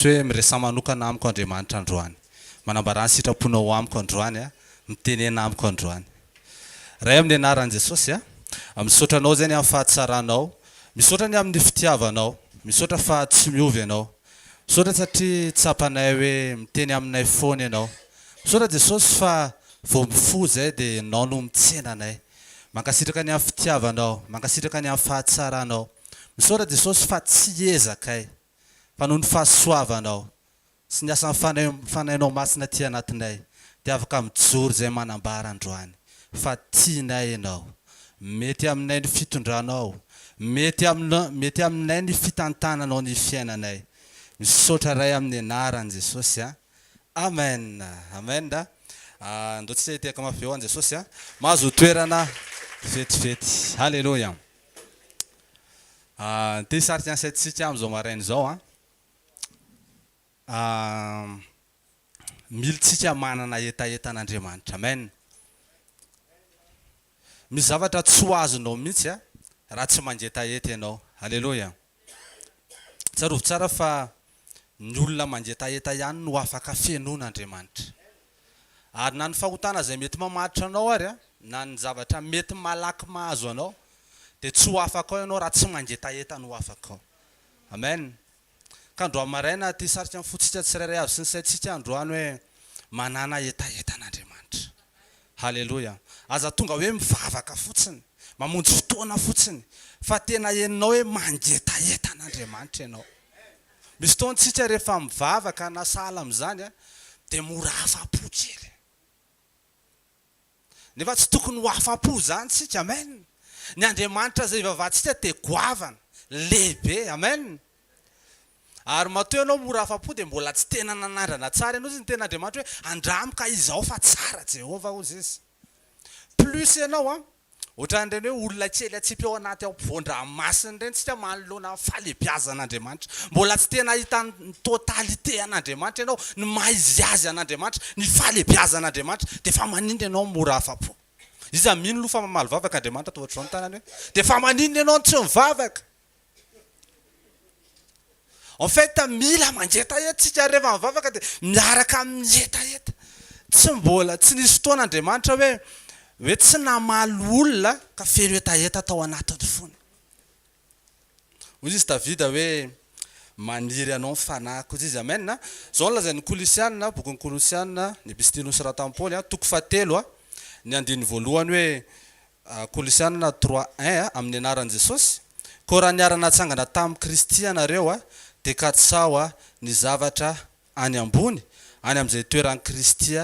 Toy hoe miresaha manokana amiko Andriamanitra androany. Manambara ny sitraponao ho amiko androany aho. Mitenena amiko androany. Ray amin'ny anaran'i Jesosy a. Misaotra anao izany amin'ny fahatsaranao. Misaotra ny amin'ny fitiavanao. Misaotra fa tsy miova ianao. Misaotra satria tsapanay hoe miteny aminay foana ianao. Misaotra Jesosy fa vao mifoha izay dia ianao no mitsena anay. Mankasitraka ny amin'ny fitiavanao. Mankasitraka ny amin'ny fahatsaranao. Misaotra Jesosy fa tsy ezakay. fa noho ny fahasoavanao sy ny asan'ny Fanahy Fanahinao Masina aty anatinay dia afaka mijoro izay manambara androany fa tianay Ianao. Mety aminay ny fitondranao, mety aminao, mety aminay ny fitantananao ny fiainanay. Misaotra Ray amin'ny anaran'i Jesosy a! Amen! Amen! Andao tsika hitehaka mafy eo an Jesosy a! Mahazo toerana vetivety. Haleloia! Ity sary tian'i Seth sy Tiamo izao maraina izao an. Mila tsika manana hetaheta an'Andriamanitra. Amen. Misy zavatra tsy ho azonao mihitsy raha tsy mangetaheta ianao. Aleloia. Tsarovy tsara fa ny olona mangetaheta ihany no afaka fenoina Andriamanitra. Ary na ny fahotana izay mety mamatotra anao ary, na ny zavatra mety malaky mahazo anao, dia tsy ho afaka ao ianao raha tsy mangetaheta ny ho afaka ao. Amen. Ka androany maraina aty hisarika ny fontsika tsirairay avy sy ny saintsika androany hoe, Manana hetaheta an'Andriamanitra. Haleloia! Aza tonga hoe mivavaka fotsiny, mamonjy fotoana fotsiny, fa tena henonao hoe mangetaheta an'Andriamanitra ianao. Misy fotoana isika rehefa mivavaka na sahala amin'izany dia mora afa-po kely. Nefa tsy tokony ho afa-po izany isika. Amen! Ny Andriamanitra izay ivavahantsika dia goavana, lehibe. Amen! Ary matoa ianao mora afa-po dia mbola tsy tena nanandrana tsara ianao izy ny tena Andriamanitra hoe andramo ka izao fa tsara Jehovah hozy izy. Plus ianao an, ohatran'ireny hoe olona kely atsipy ao anaty ampovoan-dranomasina ireny tsika manoloana ny fahalebiazan'Andriamanitra. Mbola tsy tena hahita ny totalité an'Andriamanitra ianao, ny maha izy azy an'Andriamanitra, ny fahalebiazan'Andriamanitra dia fa maninona ianao mora afa-po? Iza mino lo fa mamaly vavaka Andriamanitra toa ohatr'izao ny tanany hoe dia fa maninona ianao no tsy mivavaka? En fait mila mangetahetatsika rehefa mivavaka dia miaraka amin'ny hetaheta. Tsy mbola tsy nisy fotoana Andriamanitra hoe hoe tsy namaly olona ka feno hetaheta tao anatin'ny fony. Hoy izy Davida hoe maniry anao ny fanahiko hoy izy amen a. Izao no lazain'ny kolosianina, bokin'ny kolosianina, ny epistilony soratan'i Paoly, toko fahatelo, ny andininy voalohany hoe Kolosiana trois un amin'ny anaran'i Jesosy, koa raha niara-natsangana tamin'i Kristy ianareo dia katsaho ny zavatra any ambony, any amin'izay toeran'i Kristy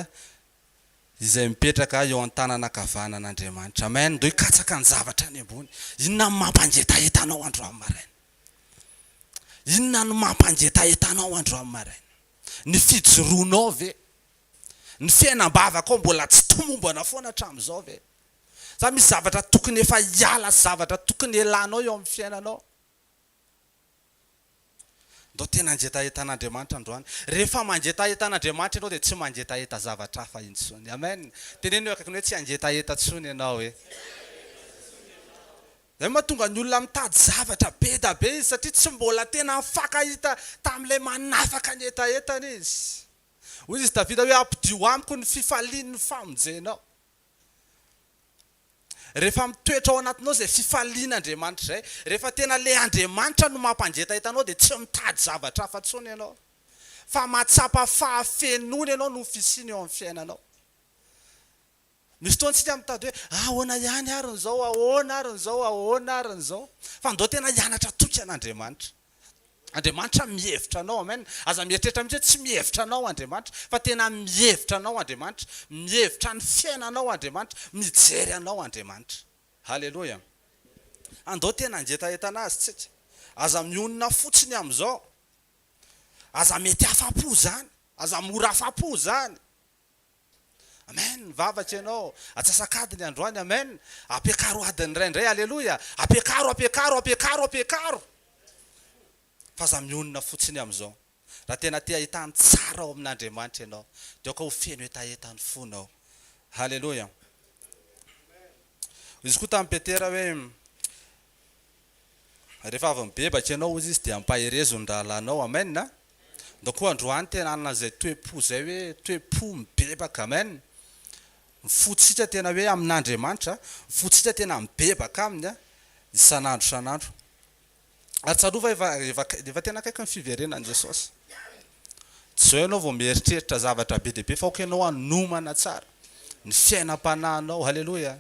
izay mipetraka eo an-tananankavanan'Andriamanitra. Amen! Ndeha hikatsaka ny zavatra any ambony. Inona no mampangetaheta anao androany maraina? Inona no mampangetaheta anao androany maraina? Ny fijoroanao ve? Ny fiainam-bavakao mbola tsy tomombana foana hatramin'izao ve? Sa misy zavatra tokony efa hiala sy zavatra tokony elanao eo amin'ny fiainanao? Ndao tena hangetaheta an'Andriamanitra androany. Rehefa mangetaheta an'Andriamanitra ianao dia tsy mangetaheta zavatra hafa intsony. Amen. Teneno eo akaikiny hoe tsy hangetaheta intsony ianao e. Izay no mahatonga ny olona mitady zavatra be da be izy satria tsy mbola tena nifankahita tamin'ilay manafaka ny hetahetany izy. Hoy izy Davida hoe, Ampidio amiko ny fifalian'ny famonjenao. Rehefa mitoetra ao anatinao izay fifaliana Andriamanitra izay, rehefa tena ilay Andriamanitra no mampangetaita anao dia tsy mitady zavatra hafa intsony ianao fa mahatsapa fahafenoana ianao noho ny fisiany eo amin'ny fiainanao. Misy fotoana isika mitady hoe ahoana ihany ary ny izao, ahoana ary ny izao, ahoana ary ny izao. Fa ndao tena hianatra toky an'Andriamanitra. Andriamanitra mihevitra anao. Amen. Aza mieritreritra mihitsy hoe tsy mihevitra anao Andriamanitra, fa tena mihevitra anao Andriamanitra. Mihevitra ny fiainanao Andriamanitra. Mijery anao Andriamanitra. Haleloia. Andao tena hangetahentana Azy tsika. Aza mionona fotsiny amin'izao. Aza mety afa-po izany. Aza mora afa-po izany. Amen mivavaka ianao atsasak'adiny androany amen ampiakaro adiny iray indray aleloia ampiakaro ampiakaro ampiakaro ampiakaro fa aza mionona fotsiny amin'izao raha tena te hahita ny tsara ao amin'Andriamanitra ianao dia aoka ho feno hetaheta ny fonao aleloia izy koa tamin'i Petera hoe Rehefa avy mibebaka ianao, hoy izy, dia ampaherezo ny rahalahinao. Amen. Ndao koa androany tena hanana izay toe-po izay hoe toe-po mibebaka. Amen. Ny fontsika tena hoe amin'Andriamanitra, ny fontsika tena mibebaka aminy isan'andro isan'andro. Ary tsarovy fa efa tena akaiky ny fiverenan'i Jesosy. Tsy izao ianao vao mieritreritra zavatra be dia be fa ok ianao hanomana tsara ny fiainam-panahinao. Haleloia!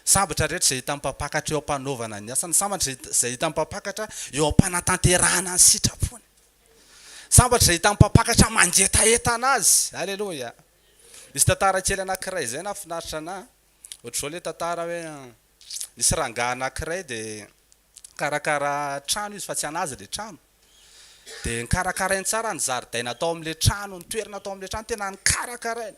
Sambatra rehetra izay hitan'ny Mpampakatra eo am-panaovana ny asany. Sambatra izay hitan'ny Mpampakatra eo am-panatanterahana ny sitrapony. Sambatra izay hitan'ny Mpampakatra mangetaheta an'Azy. Haleloia! Misy tantara kely anankiray izay nahafinaritra an'ahy. Ohatr'izao ilay tantara hoe, nisy rangahy anankiray dia Nikarakara trano izy fa tsy an'azy ilay trano. Dia nikarakarainy tsara ny zaridaina tao amin'ilay trano, ny toerana tao amin'ilay trano tena nikarakarainy.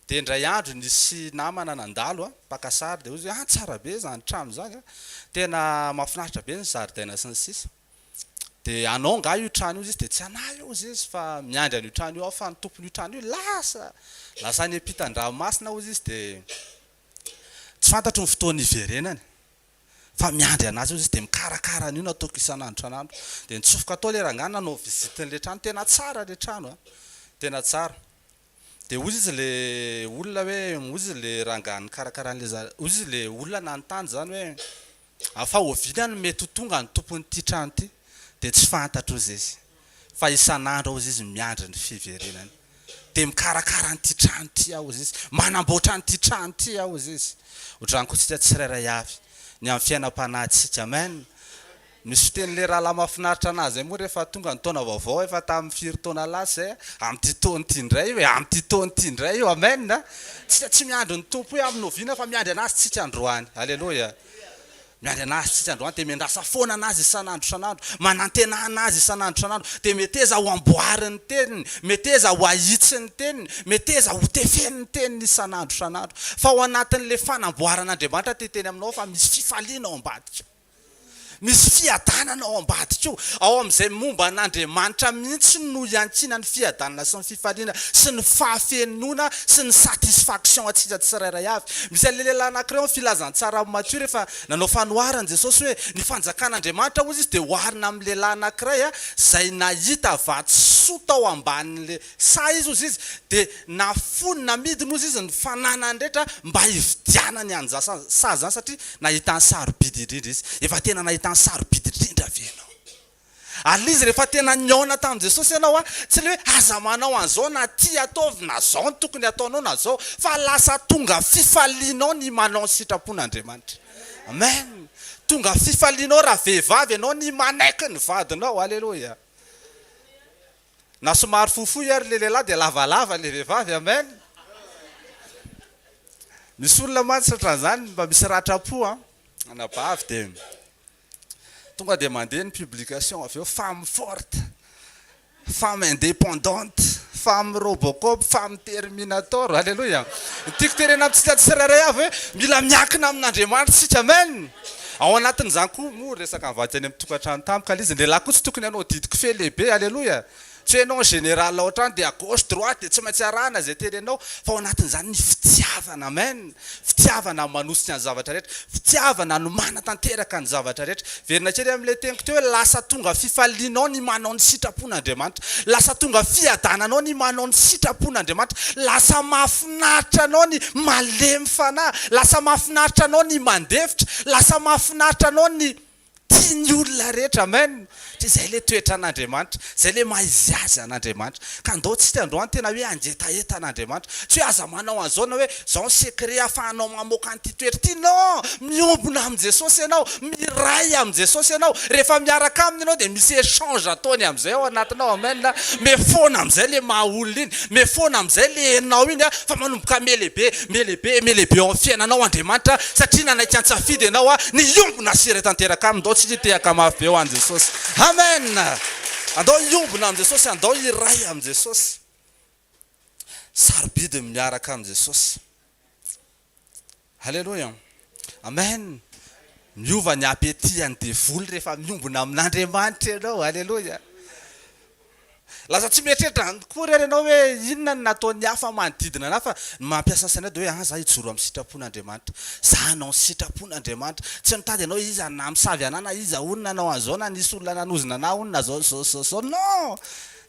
Dia indray andro nisy namana nandalo mpaka sary dia hozy hoe ah tsara be izany trano izany a, tena mahafinaritra be ny zaridaina sy ny sisa. Dia anao angaha io trano io? Hozy izy dia tsy anah io hozy izy fa miandry an'io trano io aho fa ny tompon'io trano io lasa, lasa any am-pitan-dranomasina hozy izy dia tsy fantatro ny fotoana hiverenany. fa miandry anazy eo izy de mikarakara an'io nataoko isan'andro isan'andro de nitsofoka tao le rangahy nanao visite n'le trano tena tsara le trano a tena tsara de hoy izy le olona hoe hoy izy le rangahy nikarakara an'le za- hoy izy le olona nanontany zany hoe afa oviana no mety ho tonga ny tompon'ity trano ity de tsy fantatro hoy zay izy. fa isan'andro aozy izy miandry ny fiverenany dia mikarakara an'ity trano ity aozy izy manamboatra an'ity trano ity aozy izy otrany koa tsika tsirairay avy ny amin'ny fiainam-panahintsika amen misy fitenin'ilay rahalahy mahafinaritra anahy izay moa rehefa tonga ny taona vaovao efa tamin'ny firy taona lasa izay amin'ity taona ity indray io e amin'ity taona ity indray io amen tsika tsy miandry ny tompo hoe amin'ny oviana fa miandry anazy tsika androany aleloia Miady an'azy isika androany dia miandrasa foana an'azy isan'andro isan'andro, manantena an'azy isan'andro isan'andro, dia meteza ho amboary ny teniny, meteza ho ahitsy ny teniny, meteza ho tefeny ny teniny isan'andro isan'andro. Fa ao anatin'ilay fanamboaran'Andriamanitra ity teny aminao fa misy fifaliana ao ambadikao. Misy fiadanana ao ambadikao. Ao amin'izay momba an'Andriamanitra mihitsy no iankinan'ny fiadanana sy ny fifaliana. fifaliana sy ny fahafenoana sy ny satisfaction antsika tsirairay avy. Misy an'ilay lehilahy anankiray ao amin'ny Filazantsara amin'i Matio rehefa nanao fanoharana Jesosy hoe ny fanjakan'Andriamanitra hozy izy dia oharina amin'ny lehilahy anankiray izay nahita vatosoa tao ambanin'ilay saha izy hozy izy dia nafoiny namidiny hozy izy ny fananany rehetra mba hividianany an'izany saha izany satria nahitany sarobidy indrindra izy. Efa tena nahitany sarobidy indrindra ve ianao? Ary izy rehefa tena nihaona tamin'i Jesosy ianao a, tsy ilay hoe aza manao an'izao na ty ataovy na izao no tokony hataonao na izao, fa lasa tonga fifalianao ny manao ny sitrapon'Andriamanitra. Amen! Tonga fifalianao raha vehivavy ianao ny manaiky ny vadinao. Aleloia! Na somary fohifohy ary ilay lehilahy dia lavalava ilay vehivavy. Amen! Misy olona mantsy ohatran'izany mba misy ratram-po an! Anabavy dia. Tonga dia mandeha ny publication avy eo, femme forte, femme indépendante, femme robocop, femme terminator, Alléluia! Ny tiako tenenina amintsika tsirairay avy hoe mila miankina amin'Andriamanitra isika, Amen! Ao anatin'izany koa moa resaka mivady any amin'ny tokantrano tampoka, ilay izy ny lehilahy koa tsy tokony hanao didy kofehy lehibe, Alléluia! Tsy hoe ianao général ao an-trano dia à gauche, droite dia tsy maintsy arahana izay terenao fa ao anatin'izany ny fitiavana. Amen! Fitiavana manosika ny zavatra rehetra. Fitiavana no manatanteraka ny zavatra rehetra. Hiverina kely amin'ilay teniko teo hoe lasa tonga fifalianao ny manao ny sitrapon'Andriamanitra. Lasa tonga fiadananao ny manao ny sitrapon'Andriamanitra. Lasa mahafinaritra anao ny malemy fanahy. Lasa mahafinaritra anao ny mandefitra. Lasa mahafinaritra anao ny. Tiany olona rehetra amen satria zay le toetra an'Andriamanitra zay le maha izy azy an'Andriamanitra ka ndao tsika androany tena hoe angetaheta an'Andriamanitra tsy hoe aza manao an'zao na hoe zao ny secret afahanao mamoaka an'ity toetra ity non miombona amin'i Jesosy ianao miray amin'i Jesosy ianao rehefa miaraka aminy ianao dia misy echange ataony amin'izay ao anatinao amen mefona amin'izay le maha olona iny mefona amin'izay le enao iny fa manomboka melehibe Melehibe melehibe ao amin'ny fiainanao Andriamanitra satria nanaiky an-tsafidy ianao ny hiombona sy iray tanteraka Aminy. Ndao tsika hitehaka mafy be ho an'i Jesosy. Amen! Andao hiombona amin'i Jesosy, andao hiray amin'i Jesosy. Sarobidy ny miaraka amin'i Jesosy. Aleloia! Amen! Miova ny appétit an'ny devoly rehefa miombona amin'Andriamanitra ianao. Aleloia! Lasa tsy mieritreritra any kory ary ianao hoe inona no nataon'ny hafa manodidina anao fa ny mampiasa sainao dia hoe an za hijoro amin'ny sitrapon'Andriamanitra. Za hanao ny sitrapon'Andriamanitra. Tsy mitady ianao iza no namosavy anah na iza hono nanao an'izao na nisy olona nanozona anah hono na zao zao zao zao. Non!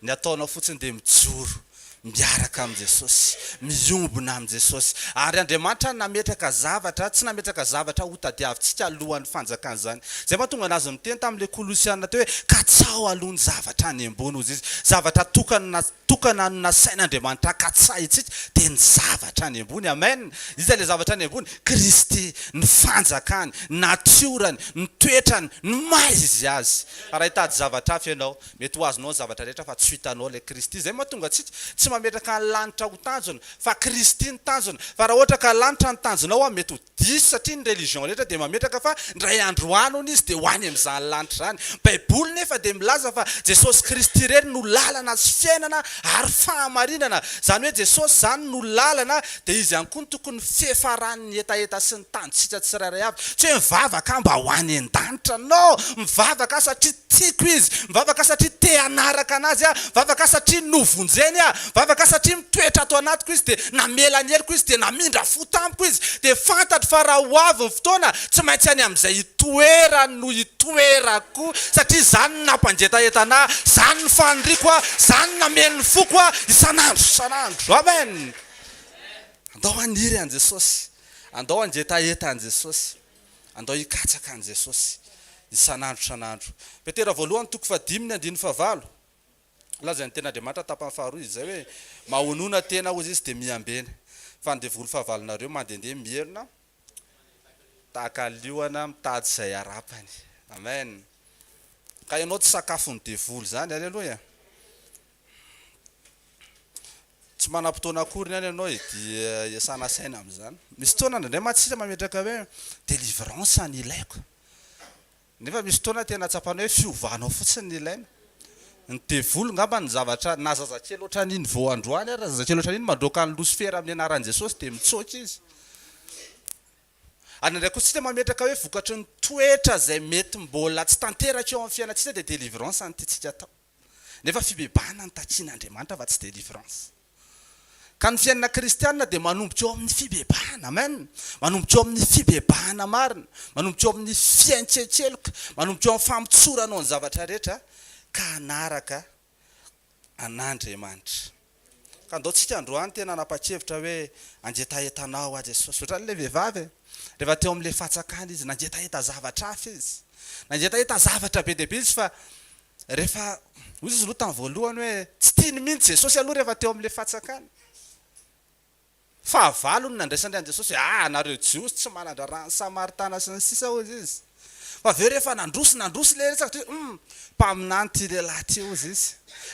Ny ataonao fotsiny dia mijoro. Miaraka amin'i Jesosy. Miombona amin'i Jesosy. Ary Andriamanitra nametraka zavatra, tsy nametraka zavatra hotadiavintsika alohan'ny fanjakan'izany. Izay mahatonga an'azy niteny tamin'ilay Kolosiana teo hoe, Katsaho aloha ny zavatra any ambony, hozy izy. Zavatra tokana, tokana no nasain'Andriamanitra katsahintsika, dia ny zavatra any ambony. Amen! Iza ilay zavatra any ambony? Kristy, ny fanjakany, ny natiorany, ny toetrany, ny maha Izy Azy. Raha hitady zavatra hafa ianao, Mety ho azonao ny zavatra rehetra fa tsy ho hitanao ilay Kristy. Izay no mahatonga antsika tsy mametraka ny lanitra ho tanjona fa Kristy no tanjona. Fa raha ohatra ka lanitra no tanjonao an, mety ho diso satria ny religion rehetra dia mametraka fa indray andro ho any hono izy dia ho any amin'izany lanitra izany. Baiboly nefa dia milaza fa Jesosy Kristy irery no lalana sy fiainana ary fahamarinana. Izany hoe Jesosy izany no lalana dia izy ihany koa no tokony fiafaran'ny. ny hetaheta sy ny tanjotsika tsirairay avy. Tsy hoe mivavaka aho mba ho any an-danitra. No! Mivavaka aho satria tiako Izy. Mivavaka aho satria te hanaraka an'Azy aho. Mivavaka aho satria novonjeny aho. Mivavaka aho satria mitoetra ato anatiko Izy, dia namela ny heloko Izy, dia namindra fo tamiko Izy. Dia fantatro fa raha ho avy ny fotoana, tsy maintsy any amin'izay itoerany no hitoerako, satria izany no nampangetaheta anah, izany no faniriako aho, izany no nameno ny foko aho isan'andro isan'andro. Amen! Andao haniry an'i Jesosy. Andao hangetaheta an'i Jesosy. Andao hikatsaka an'i Jesosy isan'andro isan'andro. Petera voalohany toko fahadimy ny andininy fahavalo. Lazain'ny Tenin'Andriamanitra tapany faharoa izay hoe, Mahonona tena, hozy izy, dia miambena. Fa ny devoly fahavalonareo mandehandeha mierona tahaka liona mitady izay harapany. Amen. Ka ianao tsy sakafon'ny devoly izany. Aleloia. Tsy manam-potoana akory ny any ianao e, dia iasana saina amin'izany. Misy fotoana indraindray mantsy isika mametraka hoe délivrance no ilaiko, nefa misy fotoana tena tsapanao hoe fiovanao fotsiny no ilaina. Ny devoly angamba no zavatra, na zazakely ohatran'iny vao androany ary, zazakely ohatran'iny mandroaka an'i Losifera amin'ny anaran'i Jesosy dia mitsoaka izy. Ary indraindray koa isika mametraka hoe vokatry ny toetra izay mety mbola tsy tanteraka eo amin'ny fiainantsika dia délivrance no tiantsika atao. Nefa fibebahana no takian' Andriamanitra fa tsy delivrance. Ka ny fiainana kristiana dia manomboka eo amin' ny fibebahana. Amen! Manomboka eo amin' ny fibebahana marina, manomboka eo amin' ny fiantsenkeloka, manomboka eo amin' ny famotsoranao ny zavatra rehetra ka hanaraka an' Andriamanitra. Ka ndao tsika androany tena hanapa-kevitra hoe hangetaheta anao aho Jesosy. Ohatran'ny ilay vehivavy e, rehefa teo amin'ilay fatsakana izy, nangetaheta zavatra hafa izy. Nangetaheta zavatra be dia be izy fa rehefa, hoy izy aloha tamin'ny voalohany hoe tsy tiany mihitsy Jesosy aloha rehefa teo amin'ilay fatsakana. Fahavalo no nandraisany an'i Jesosy, Ah! anareo Jiosy tsy manan-draharaha ny Samaritana sy ny sisa hozy izy. Fa avy eo rehefa nandroso nandroso ilay resaka dia hoe, Humm! mpaminany ity lehilahy ity hozy izy.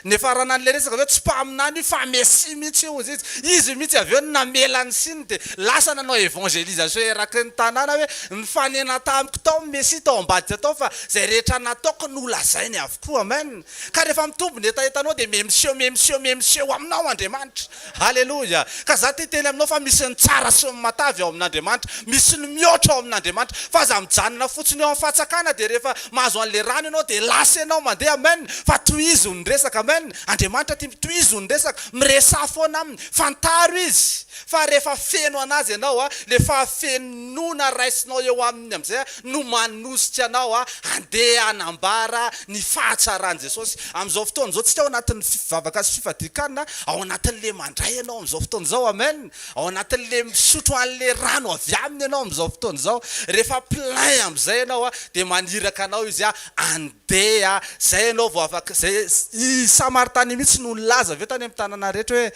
Nifarana an'ilay resaka avy eo, tsy mpaminany io fa Mesia mihitsy io hozy izy. Izy mihitsy avy eo no namela ny siny dia lasa nanao évangélisation eraky ny tanàna hoe, Nifanena tamiko tao ny Mesia tao ambadika tao fa izay rehetra nataoko nolazainy avokoa. Amen! Ka rehefa mitombo ny hetahetanao dia memsio memsio memsio aminao Andriamanitra. Haleloia! Ka za te hiteny aminao fa misy ny tsara sy ny matavy ao amin'Andriamanitra, misy ny mihoatra ao amin'Andriamanitra, fa aza mijanona fotsiny eo amin'ny fatsakana dia rehefa mahazo an'ilay rano ianao dia lasa ianao mandeha amen, fa tohizo ny resaka amen, Andriamanitra tia tohizo ny resaka, miresaha foana aminy, fantaro izy fa rehefa feno anazy ianao a, le fahafenoana raisinao eo aminy amin'izay a, no manosika anao handeha hanambara ny fahatsaran'i Jesosy. Amin'izao fotoana izao, tsika ao anatin'ny fivavaka sy fifadian-kanina, ao anatin'ilay mandray ianao amin'izao fotoana izao, amen, ao anatin'ilay misotro an'ilay rano avy Aminy ianao amin'izao fotoana izao, rehefa plein amin'izay ianao, dia maniraka anao Izy handeha, izay ianao vao afaka, izay, i Samaritana io mihitsy no nilaza ve tany amin'ny tanàna rehetra hoe,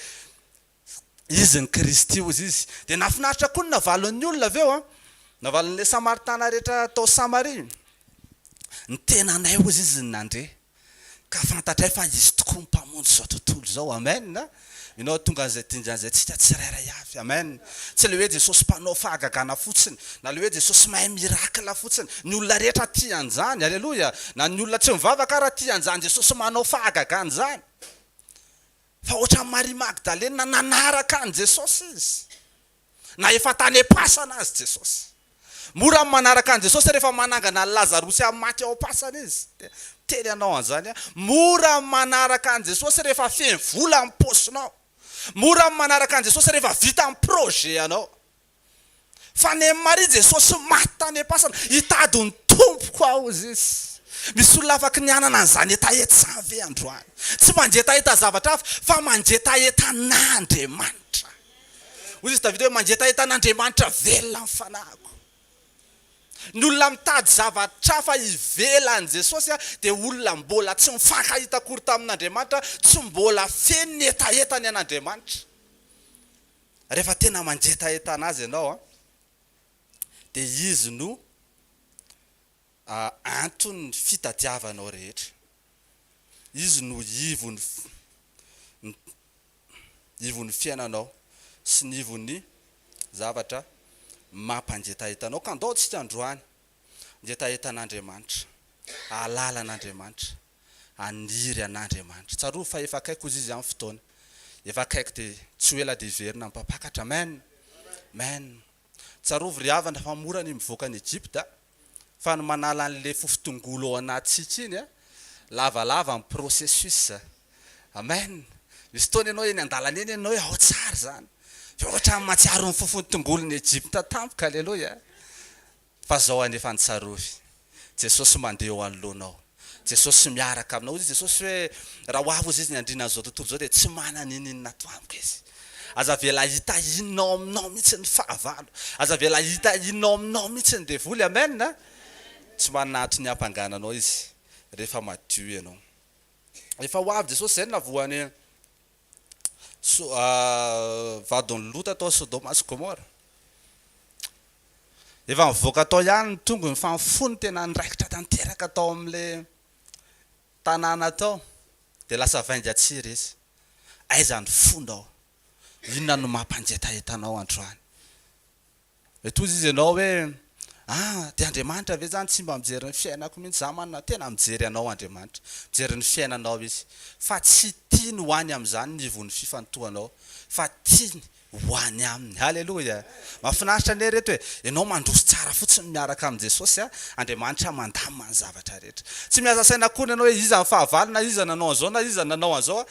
Izy ny Kristy, hozy izy. Dia nahafinaritra koa ny navalon'ny olona avy eo an! Navalon'ilay Samaritana rehetra tao Samaria. Ny tenanay, hozy izy, no nandre, ka fantatray fa Izy tokoa ny Mpamonjy izao tontolo izao. Amen! Ianao hahatonga an'izay dingan' izay antsika tsirairay avy. Amen! Tsy ilay hoe Jesosy mpanao fahagagana fotsiny, na ilay hoe Jesosy mahay miracle fotsiny. Ny olona rehetra tia an'izany. Aleloia! Na ny olona tsy mivavaka ara tia an'izany Jesosy manao fahagagana izany. Fa hoatran'i Maria Magdalena nanaraka an'i Jesosy izy. Na efa tany am-pasana aza Jesosy. Mora ny manaraka an'i Jesosy rehefa manangana an'i Lazarosy amin'ny maty ao am-pasana izy. Dia miteny anao an'izany aho. Mora ny manaraka an'i Jesosy rehefa feno vola ny paosinao. Mora ny manaraka an'i Jesosy rehefa vita ny projet-anao. Fa neh Maria Jesosy maty tany am-pasana, hitady ny Tompoko aho, hoy Izy. Misy olona afaky ny hanana an'izany hetaheta izany ve androany? Tsy mangetaheta zavatra hafa, fa mangetaheta an'Andriamanitra. Hoy izy Davida hoe, Mangetaheta an'Andriamanitra velona ny fanahiko. Ny olona mitady zavatra hafa ivelan'i Jesosy dia olona mbola tsy nifankahita akory tamin'Andriamanitra, tsy mbola feno ny hetahetany an'Andriamanitra. Rehefa tena mangetahentana azy ianao an, dia izy no anton'ny fitadiavanao rehetra, izy no ivon'ny ivon'ny fiainanao sy ny ivon'ny zavatra mampangetaheta anao. Ka andao isika androany ny hetahetan'Andriamanitra, hahalala an'Andriamanitra, haniry an'Andriamanitra. Tsarovy fa efa akaiky hozy Izy amin'ny fotoana. Efa akaiky dia tsy ho ela dia hiverina amin'ny Mpampakatra. Amen! Amen! Tsarovy ry havana fa mora ny mivoaka an'i Egypta fa ny manala an'ilay fofon-tongolo ao anatintsika iny an! Lavalava ny processus. Amen! Misy fotoana ianao eny an-dalana eny ianao hoe ao tsara izany. Dia ohatran'ny mahatsiaro ny fofon-tongolo ny Egypta tampoka. Aleloia! Fa zao anefa ny tsarovy, Jesosy mandeha eo anoloanao, Jesosy miaraka aminao, hoy i Jesosy hoe raha ho avy ozy izy ny andriana an'izao tontolo izao dia tsy manana ininona ato amiko izy. Aza avela hita inona ao aminao mihitsy ny fahavalo, aza avela hita inona ao aminao mihitsy ny devoly, amen a! Tsy manana antony hampangana anao izy rehefa madio ianao. Efa ho avy Jesosy izay no navohan'i. vadin'i Lota tao Sodoma sy Gomora. Efa nivoaka tao ihany ny tongony fa ny fony tena niraikitra tanteraka tao amin'ilay tanàna tao dia lasa vainga tsiry izy. Aiza ny fonao? Inona no mampangetaheta anao androany? Tohizo izy ianao hoe, Ah, dia Andriamanitra ve izany tsy mba mijery ny fiainako mihitsy? Izaho manana tena mijery anao Andriamanitra, mijery ny fiainanao Izy. Fa tsy tiany ho any amin'izany ny ivon'ny fifantohanao, fa tiany ho any aminy. Haleloia! Mahafinaritra anie ireto e! Ianao mandroso tsara fotsiny miaraka amin'i Jesosy a! Andriamanitra mandamina ny zavatra rehetra. Tsy miasa saina akory ianao hoe iza ny fahavalo na iza nanao an'izao na iza nanao an'izao.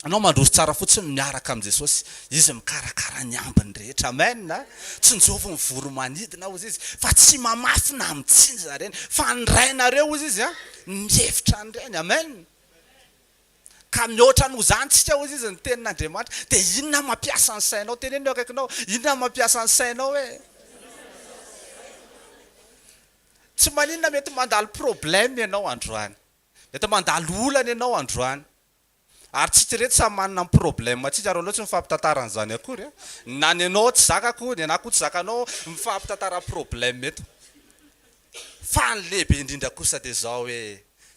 Anao mandroso tsara fotsiny miaraka amin'i Jesosy, Izy mikarakara ny ambiny rehetra. Amen a! Tsinjovy ny voromanidina hozy Izy, fa tsy mamafy na mitsinja ireny, fa ny Rainareo hozy Izy a, no mihevitra an'ireny. Amen! Ka mihoatra noho izany tsika hozy Izy ny tenin'Andriamanitra, dia inona mampiasa ny sainao? Teneno ny eo akaikinao, inona mampiasa ny sainao e? Tsy maninona mety mandalo problème ianao androany, mety mandalo olana ianao androany, Ary tsy tsy reto samy manana ny problème tsika ary aleo tsy mifampitantara an'izany akory a! Na ny anao tsy zakako, ny anah koa tsy zakanao, mifampitantara problème eto. Fa ny lehibe indrindra kosa dia izao hoe,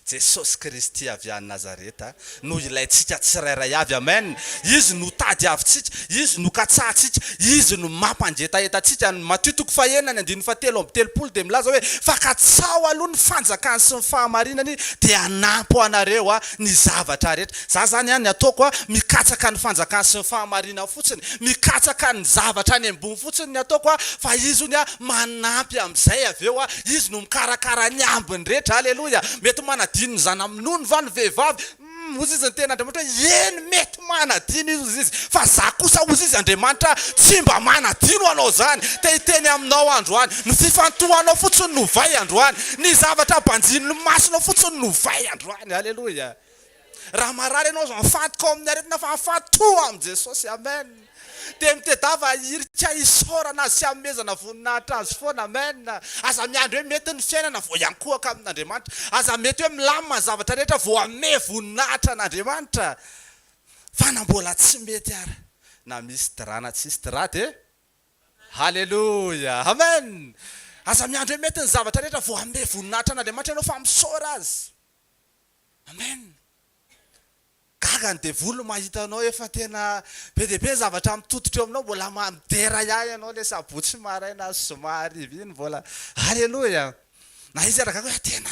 Jesosy Kristy avy any Nazareta no ilaintsika tsirairay avy, amen! Izy no tady avintsika, Izy no katsahantsika, Izy no mampangetaheta antsika. Ny Matio toko fahenina ny andininy fahatelo amby telopolo dia milaza hoe, Fa katsaho aloha ny fanjakany sy ny fahamarinany dia hanampy ho anareo aho. ny zavatra rehetra. Za zany an ny ataoko an, mikatsaka ny fanjakany sy ny fahamarinany fotsiny, mikatsaka ny zavatra any ambony fotsiny ny ataoko an, fa Izy ony an manampy amzay avy eo an, Izy no mikarakara ny ambiny rehetra, Aleloia! Mety manadino ny zana-minono va ny vehivavy? Humm! Hozy izy niteny Andriamanitra hoe, Eny, mety. Manadino izy, hozy izy, fa za kosa, hozy izy, Andriamanitra tsy mba manadino anao zany. Te hiteny aminao androany, ny fifantohanao fotsiny no vay androany, ny zavatra banjinin'ny masonao fotsiny no vay androany. Aleloia. Raha marary ianao, azo ahafantoka ao amin'ny aretina, fa ahafantoa amin'i Jesosy. Amen. Dia mitedava hirika hisaorana sy hanomezana voninahitra Azy foana. Amen. Aza miandry hoe mety ny fiainana vao hiankohoka amin'Andriamanitra. Aza mety hoe milamina ny zavatra rehetra vao hanome voninahitra an'Andriamanitra. Fa na mbola tsy mety ary, na misy drap na tsisy drap dia Haleloia. Amen. Aza miandry hoe mety ny zavatra rehetra vao hanome voninahitra an'Andriamanitra ianao fa misaora Azy. Amen. Gaga ny devoly mahita anao efa tena be dia be ny zavatra mitototra eo aminao mbola midera ihany ianao ilay sabotsy maraina sy zoma hariva iny mbola Aleloia na izy ara gaga hoe tena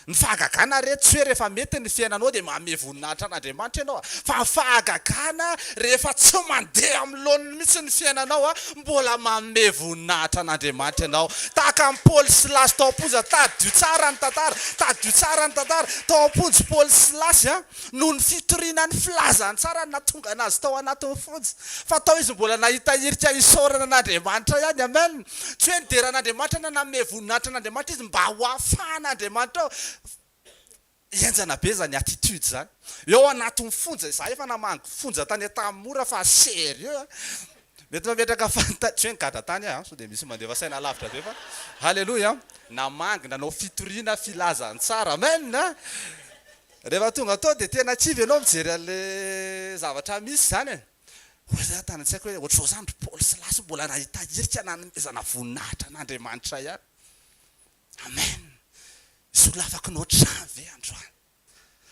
ny fahagagana re tsy hoe rehefa mety ny fiainanao dia manome voninahitra an'Andriamanitra ianao fa ny fahagagana rehefa tsy mandeha amin'ny laoniny mihitsy ny fiainanao a! Mbola manome voninahitra an'Andriamanitra ianao. Tahaka an'i Paoly sy Silasy tao am-ponja, tadidio tsara ny tantara, tadidio tsara ny tantara. Tao am-ponja i Paoly sy Silasy a! noho ny fitoriana ny filazantsara no nahatonga anazy tao anatin'ny fonja. Fa tao izy mbola nahita hirika hisaorana an'Andriamanitra ihany. Amen! Tsy hoe nidera an'Andriamanitra na nanome voninahitra an'Andriamanitra izy mba ho ahafahan'Andriamanitra Henjana be zany attitude zany. Eo anatin'ny fonja izahay efa namangy fonja tany Antanimora fa sérieux a! Mety mametraka fanta-, tsy hoe nigadra tany aho a, sao dia misy mandefa saina alavitra be fa haleloia a! Namangy nanao fitoriana filazantsara, amen a! Rehefa tonga tao dia tena kivy ianao mijery an'ilay zavatra misy izany e! Hoy zay tany an-tsaiko hoe ohatr'izao izany ry Paoly sy Lasy mbola nahita hirika nanomezana voninahitra an'Andriamanitra ihany. Amen! Solafako ny ohatr'izany ve androany?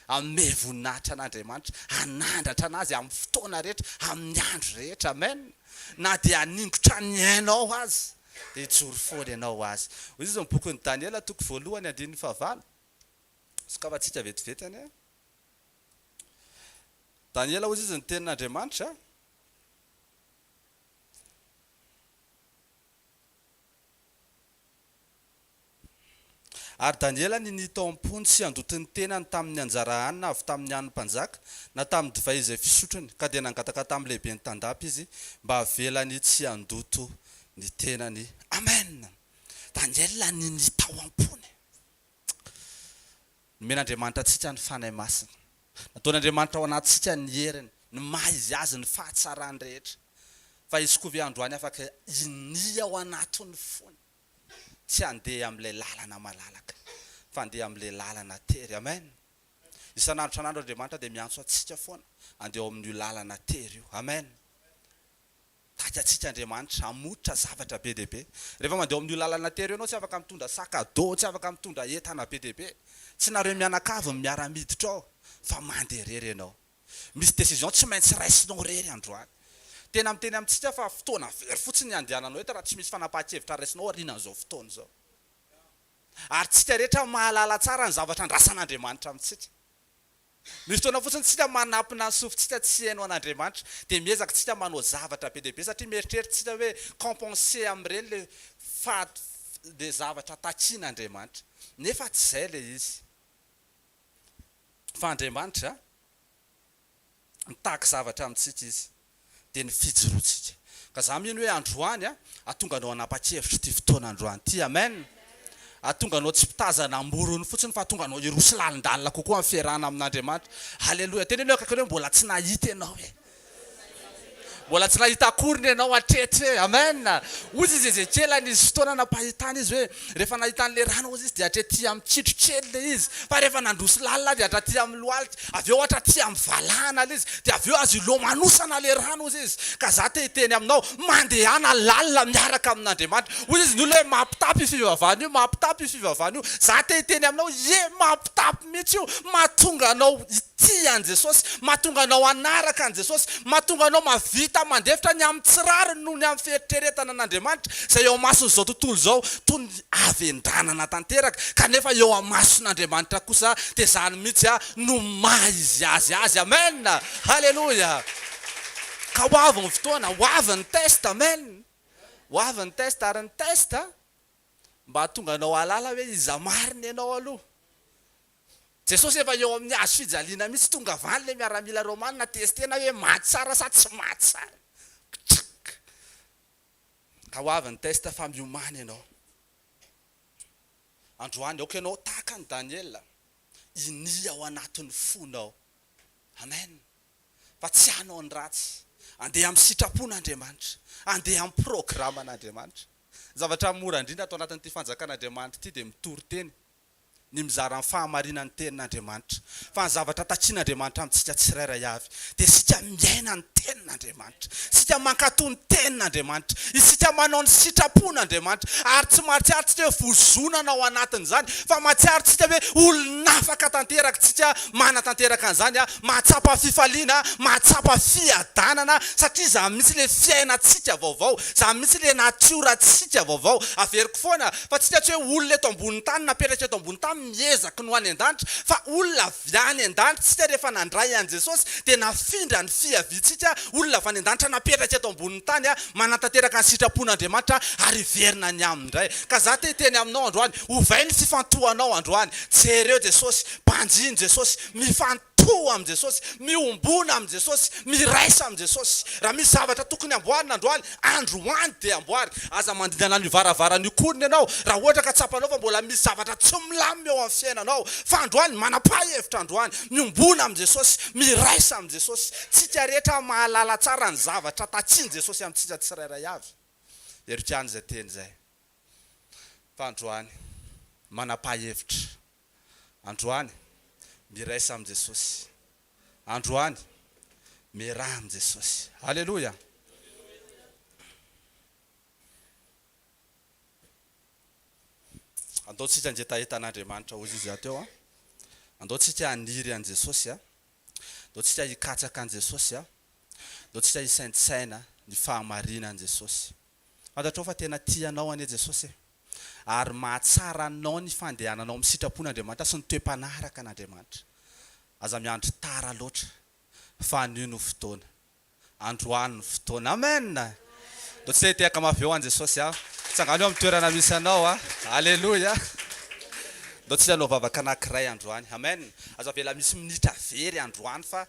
Hanome voninahitra an'Andriamanitra, hanandratra an'Azy amin'ny fotoana rehetra, amin'ny andro rehetra. Amen! Na dia haningotra ny ainao aza, dia hijoro foana ianao ho Azy. Hoy Jesosy amin'ny bokin'i Daniela toko voalohany andininy fahavalo. Sokafantsika vetivety anie. Daniela, hoy Jesosy, ny tenin'Andriamanitra. Ary Daniela ninia tao am-pony sy handoto ny tenany tamin' ny anjara hanina avy tamin' ny hanin' ny mpanjaka, na tamin' ny divay izay fisotrony, ka dia nangataka tamin' ny lehiben' ny tandapa izy mba havelany tsy handoto ny tenany. Amen! Daniela ninia tao am-pony. Nomen'Andriamanitra antsika ny Fanahy Masina. Nataon'Andriamanitra ao anatintsika ny heriny, ny maha izy azy, ny fahatsarany rehetra. Fa izy koa ve androany afaka hinia ao anatin'ny fony tsy handeha amin'ilay lalana malalaka, fa handeha amin'ilay lalana tery? Amen! Isan'andro isan'andro Andriamanitra dia miantso antsika foana handeha ao amin'io lalana tery io. Amen! Taitra antsika Andriamanitra, hamoitra zavatra be dia be. Rehefa mandeha ao amin'io lalana tery io ianao, tsy afaka mitondra sac à dos, tsy afaka mitondra entana be dia be. Tsy nareo mianakavy no miara-miditra ao, fa mandeha irery ianao. Misy décision tsy maintsy raisinao irery androany. Tena miteny amintsika fa fotoana very fotsiny ny handehananao eto raha tsy misy fanapahan-kevitra raisinao aorianan'izao fotoana izao. Ary tsika rehetra mahalala tsara ny zavatra andrasan'Andriamanitra amintsika. Misy fotoana fotsiny tsika manampina ny sofintsika tsy heno an'Andriamanitra, dia miezaka tsika manao zavatra be dia be satria mieritreritra tsika hoe compenser amin'ireny le fahat le zavatra takian'Andriamanitra. Nefa tsy izay le izy. Fa Andriamanitra, mitaky zavatra amintsika izy. dia ny fijoroantsika. Ka za mino hoe androany a, atonga anao hanapa-kevitra ity fotoana androany ity. Amen! Atonga anao tsy mpitazana am-borony fotsiny fa atonga anao hiroso lalindalina kokoa amin'ny fiarahana amin'Andriamanitra. Haleloia! Teneno eo akaikinao hoe mbola tsy nahita ianao e! Mbola tsy nahita akoriny ianao hatreto e! Amen! Hoy izy Ezekiela nisy fotoana nampahitana izy hoe Rehefa nahita an'ilay rano ozy izy dia hatrety amin'ny kitro kely ilay izy. Fa rehefa nandroso lalina dia hatraty amin'ny lohalika. Avy eo hatraty amin'ny valahana ilay izy. Dia avy eo azo ilomanosana ilay rano ozy izy. Ka za te hiteny aminao, mandehana lalina miaraka amin'Andriamanitra. Hoy izy ny olona hoe mampitapy io fivavahana io, mampitapy io fivavahana io. Za te hiteny aminao, ie, mampitapy mihitsy io, mahatonga anao Tia an'i Jesosy, mahatonga anao hanaraka an'i Jesosy, mahatonga anao mahavita mandefitra ny amin'ny tsy rariny noho ny amin'ny fieritreretana an'Andriamanitra izay eo amason'izao tontolo izao toy ny havendranana tanteraka, kanefa eo amason'Andriamanitra kosa dia izany mihitsy no maha izy azy azy. Amen! Haleloia! Ka ho avy ny fotoana, ho avy ny test, amen! Ho avy ny test, ary ny test mba hahatonga anao hahalala hoe iza marina ianao aloha. Jesosy efa eo amin'ny hazo fijaliana mihitsy tonga valy ilay miaramila romana test tena hoe maty tsara sa tsy maty tsara kchikk ka ho avy ny test fa miomana ianao androany aoka ianao tahaka an'i Daniela hinia ao anatin'ny fonao amen fa tsy hanao ny ratsy andeha amin'ny sitrapon'Andriamanitra andeha amin'ny programan'Andriamanitra ny zavatra mora indrindra ato anatin'ity fanjakan'Andriamanitra ity dia mitory teny ny mizara ny fahamarinan'ny Tenin'Andriamanitra, fa ny zavatra takian'Andriamanitra amintsika tsirairay avy, dia isika miaina ny Tenin'Andriamanitra, isika mankatò ny Tenin'Andriamanitra, isika manao ny sitrapon'Andriamanitra, ary tsy mahatsiaro tsika hoe vozonana ao anatin'izany, fa mahatsiaro tsika hoe olon'afaka tanteraka, tsika manatanteraka an'izany, mahatsapa fifaliana, mahatsapa fiadanana, satria izany mihitsy ilay fiainantsika vaovao, izany mihitsy ilay natiorantsika vaovao, averiko foana, Fa tsika tsy hoe olona eto ambony tany napetraka eto ambony tany miezaky ny ho any an-danitra fa olona avy any an-danitra tsika rehefa nandray an'i Jesosy dia nafindra ny fiaviantsika olona avy any an-danitra napetraka eto ambony tany manatanteraka ny sitrapon'Andriamanitra ary hiverina ny aminy indray ka za te hiteny aminao androany ovay ny fifantohanao androany jereo Jesosy banjino Jesosy mifan Toha amin'i Jesosy, miombona amin'i Jesosy, miraisa amin'i Jesosy. Raha misy zavatra tokony amboarina androany, androany dia amboary. Aza mandingana an'io varavarana io koriny ianao raha ohatra ka tsapanao fa mbola misy zavatra tsy milamina eo amin'ny fiainanao. Fa androany, manam-pahhevitra androany. Miombona amin'i Jesosy, miraisa amin'i Jesosy. Tsika rehetra mahalala tsara ny zavatra takian'i Jesosy amintsika tsirairay avy. Heriko ihany izay teny izay. Fa androany, manam-pahhevitra. Androany, miraisa amin'i Jesosy. Androany, miaraha amin'i Jesosy. Aleloia! Andao tsika hangetaheta an'Andriamanitra hoy izy hateo an! Andao tsika haniry an'i Jesosy an! Andao tsika hikatsaka an'i Jesosy an! Andao tsika hisaintsaina ny fahamarinan'i Jesosy. Fantatrao fa tena tia anao anie Jesosy e! Ary mahatsara anao ny fandehananao amin'ny sitrapon'Andriamanitra sy ny toe-panaraka an'Andriamanitra. Aza miandry tara loatra, fa anio no fotoana. Androany ny fotoana. Amen! Mba tsy te hitehaka mafy be ho an'i Jesosy aho? Tsangano eo amin'ny toerana misy anao a! Aleloia! Ndao tsy hanao vavaka anankiray androany. Amen! Aza avela misy minitra very androany fa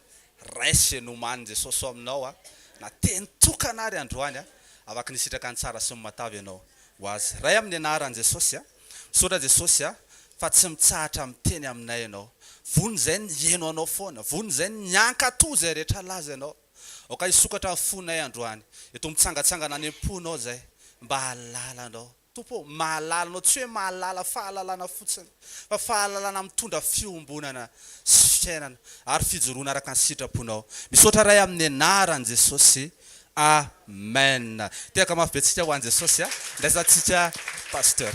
Rais ze nomaniny Jesosy ao aminao a na teny tokana ary androany a avaky ny sitraka ny tsara sy ny matavy ianao ho azy Ray aminy anarany Jesosy a misaotra Jesosy a fa tsy mitsahatra miteny aminay ianao vono izay ny hieno anao foana vono izay ny hiankato izay rehetra laza ianao aoka hisokatra ny fonay androany eto mitsangatsangana any amponao izay mba hahalala anao Tompo ô, mahalala Anao, tsy hoe mahalala fahalalana fotsiny, fa fahalalana mitondra fiombonana sy fiainana ary fijoroana araka ny sitraponao. Misaotra Ray amin'ny anaran'i Jesosy. Amen. Tehaka mafy be tsika ho an'i Jesosy a. Ndraisantsika Pasteur.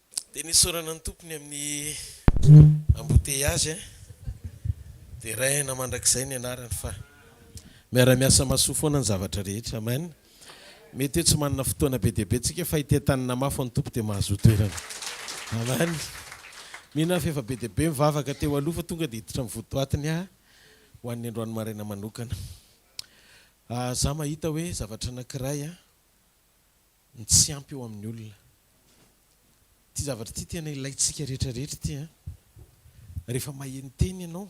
Dia nesorana ny tompony amin'ny embouteillage dia raihana mandrakizay ny anarany fa miara-miasa mahasoa foana ny zavatra rehetra. Amen. Mety hoe tsy manana fotoana be dia be tsika fa ity an-tany namafo ny Tompo dia mahazoa toerana. Amen. Mino aho fa efa be dia be mivavaka teo aloha fa tonga dia hiditra amin'ny votoatiny aho ho an'ny androany maraina manokana. Za mahita hoe zavatra anankiray. ny tsy ampy eo amin'ny olona. Ity zavatra ity tena ilaintsika rehetra rehetra ity an! Rehefa maheno teny ianao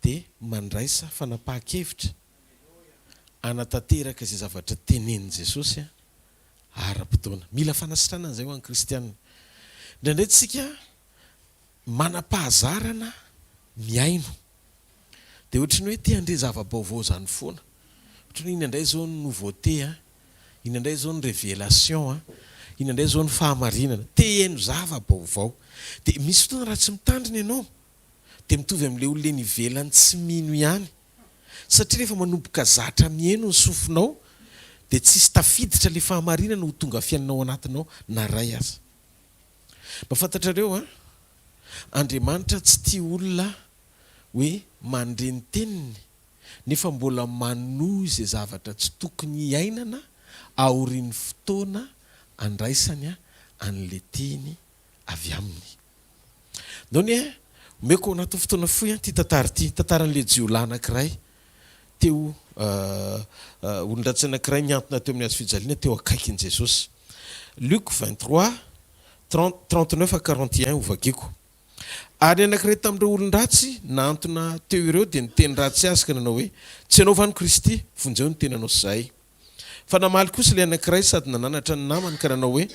dia mandraisa fanapahan-kevitra hanatanteraka izay zavatra tenenin'i Jesosy ara-potoana. Mila fanasitrana izay ho an'ny kristiana. Indraindray tsika Manam-pahazarana mihaino. Dia ohatry ny hoe te handre zava-baovao izany foana. Ohatry ny hoe iny indray izao ny nouveauté an, iny indray izao ny révélation an, iny indray izao ny fahamarinana. Te hihaino zava-baovao. Dia misy fotoana raha tsy mitandrina ianao dia mitovy amin'ilay olona eny ivelany tsy mino ihany. Satria rehefa manomboka zatra mihaino ny sofinao dia tsisy tafiditra ilay fahamarinana ho tonga fiainana ao anatinao na iray aza. Mba fantatrareo an! Andriamanitra tsy tia olona hoe mandre ny teniny nefa mbola manohy izay zavatra tsy tokony hiainana aorian'ny fotoana andraisany an'ilay teny avy aminy. Nony e, omeko ao anatin'ny fotoana fohy an ity tantara ity, tantaran'ilay jiolahy anankiray Teo, olon-dratsy anankiray nihantona teo amin'ny hazofijaliana teo akaikin'i Jesosy. Luc 23, 30, 39 à 41 Hovagiko. Ary ny anankiray tamin'ireo olon-dratsy nahantona teo ireo dia niteny ratsy Azy ka nanao hoe, Tsy Ianao va no Kristy? Vonjeo ny tenanao sy zahay. Fa namaly kosa ilay anankiray sady nananatra ny namany ka nanao hoe,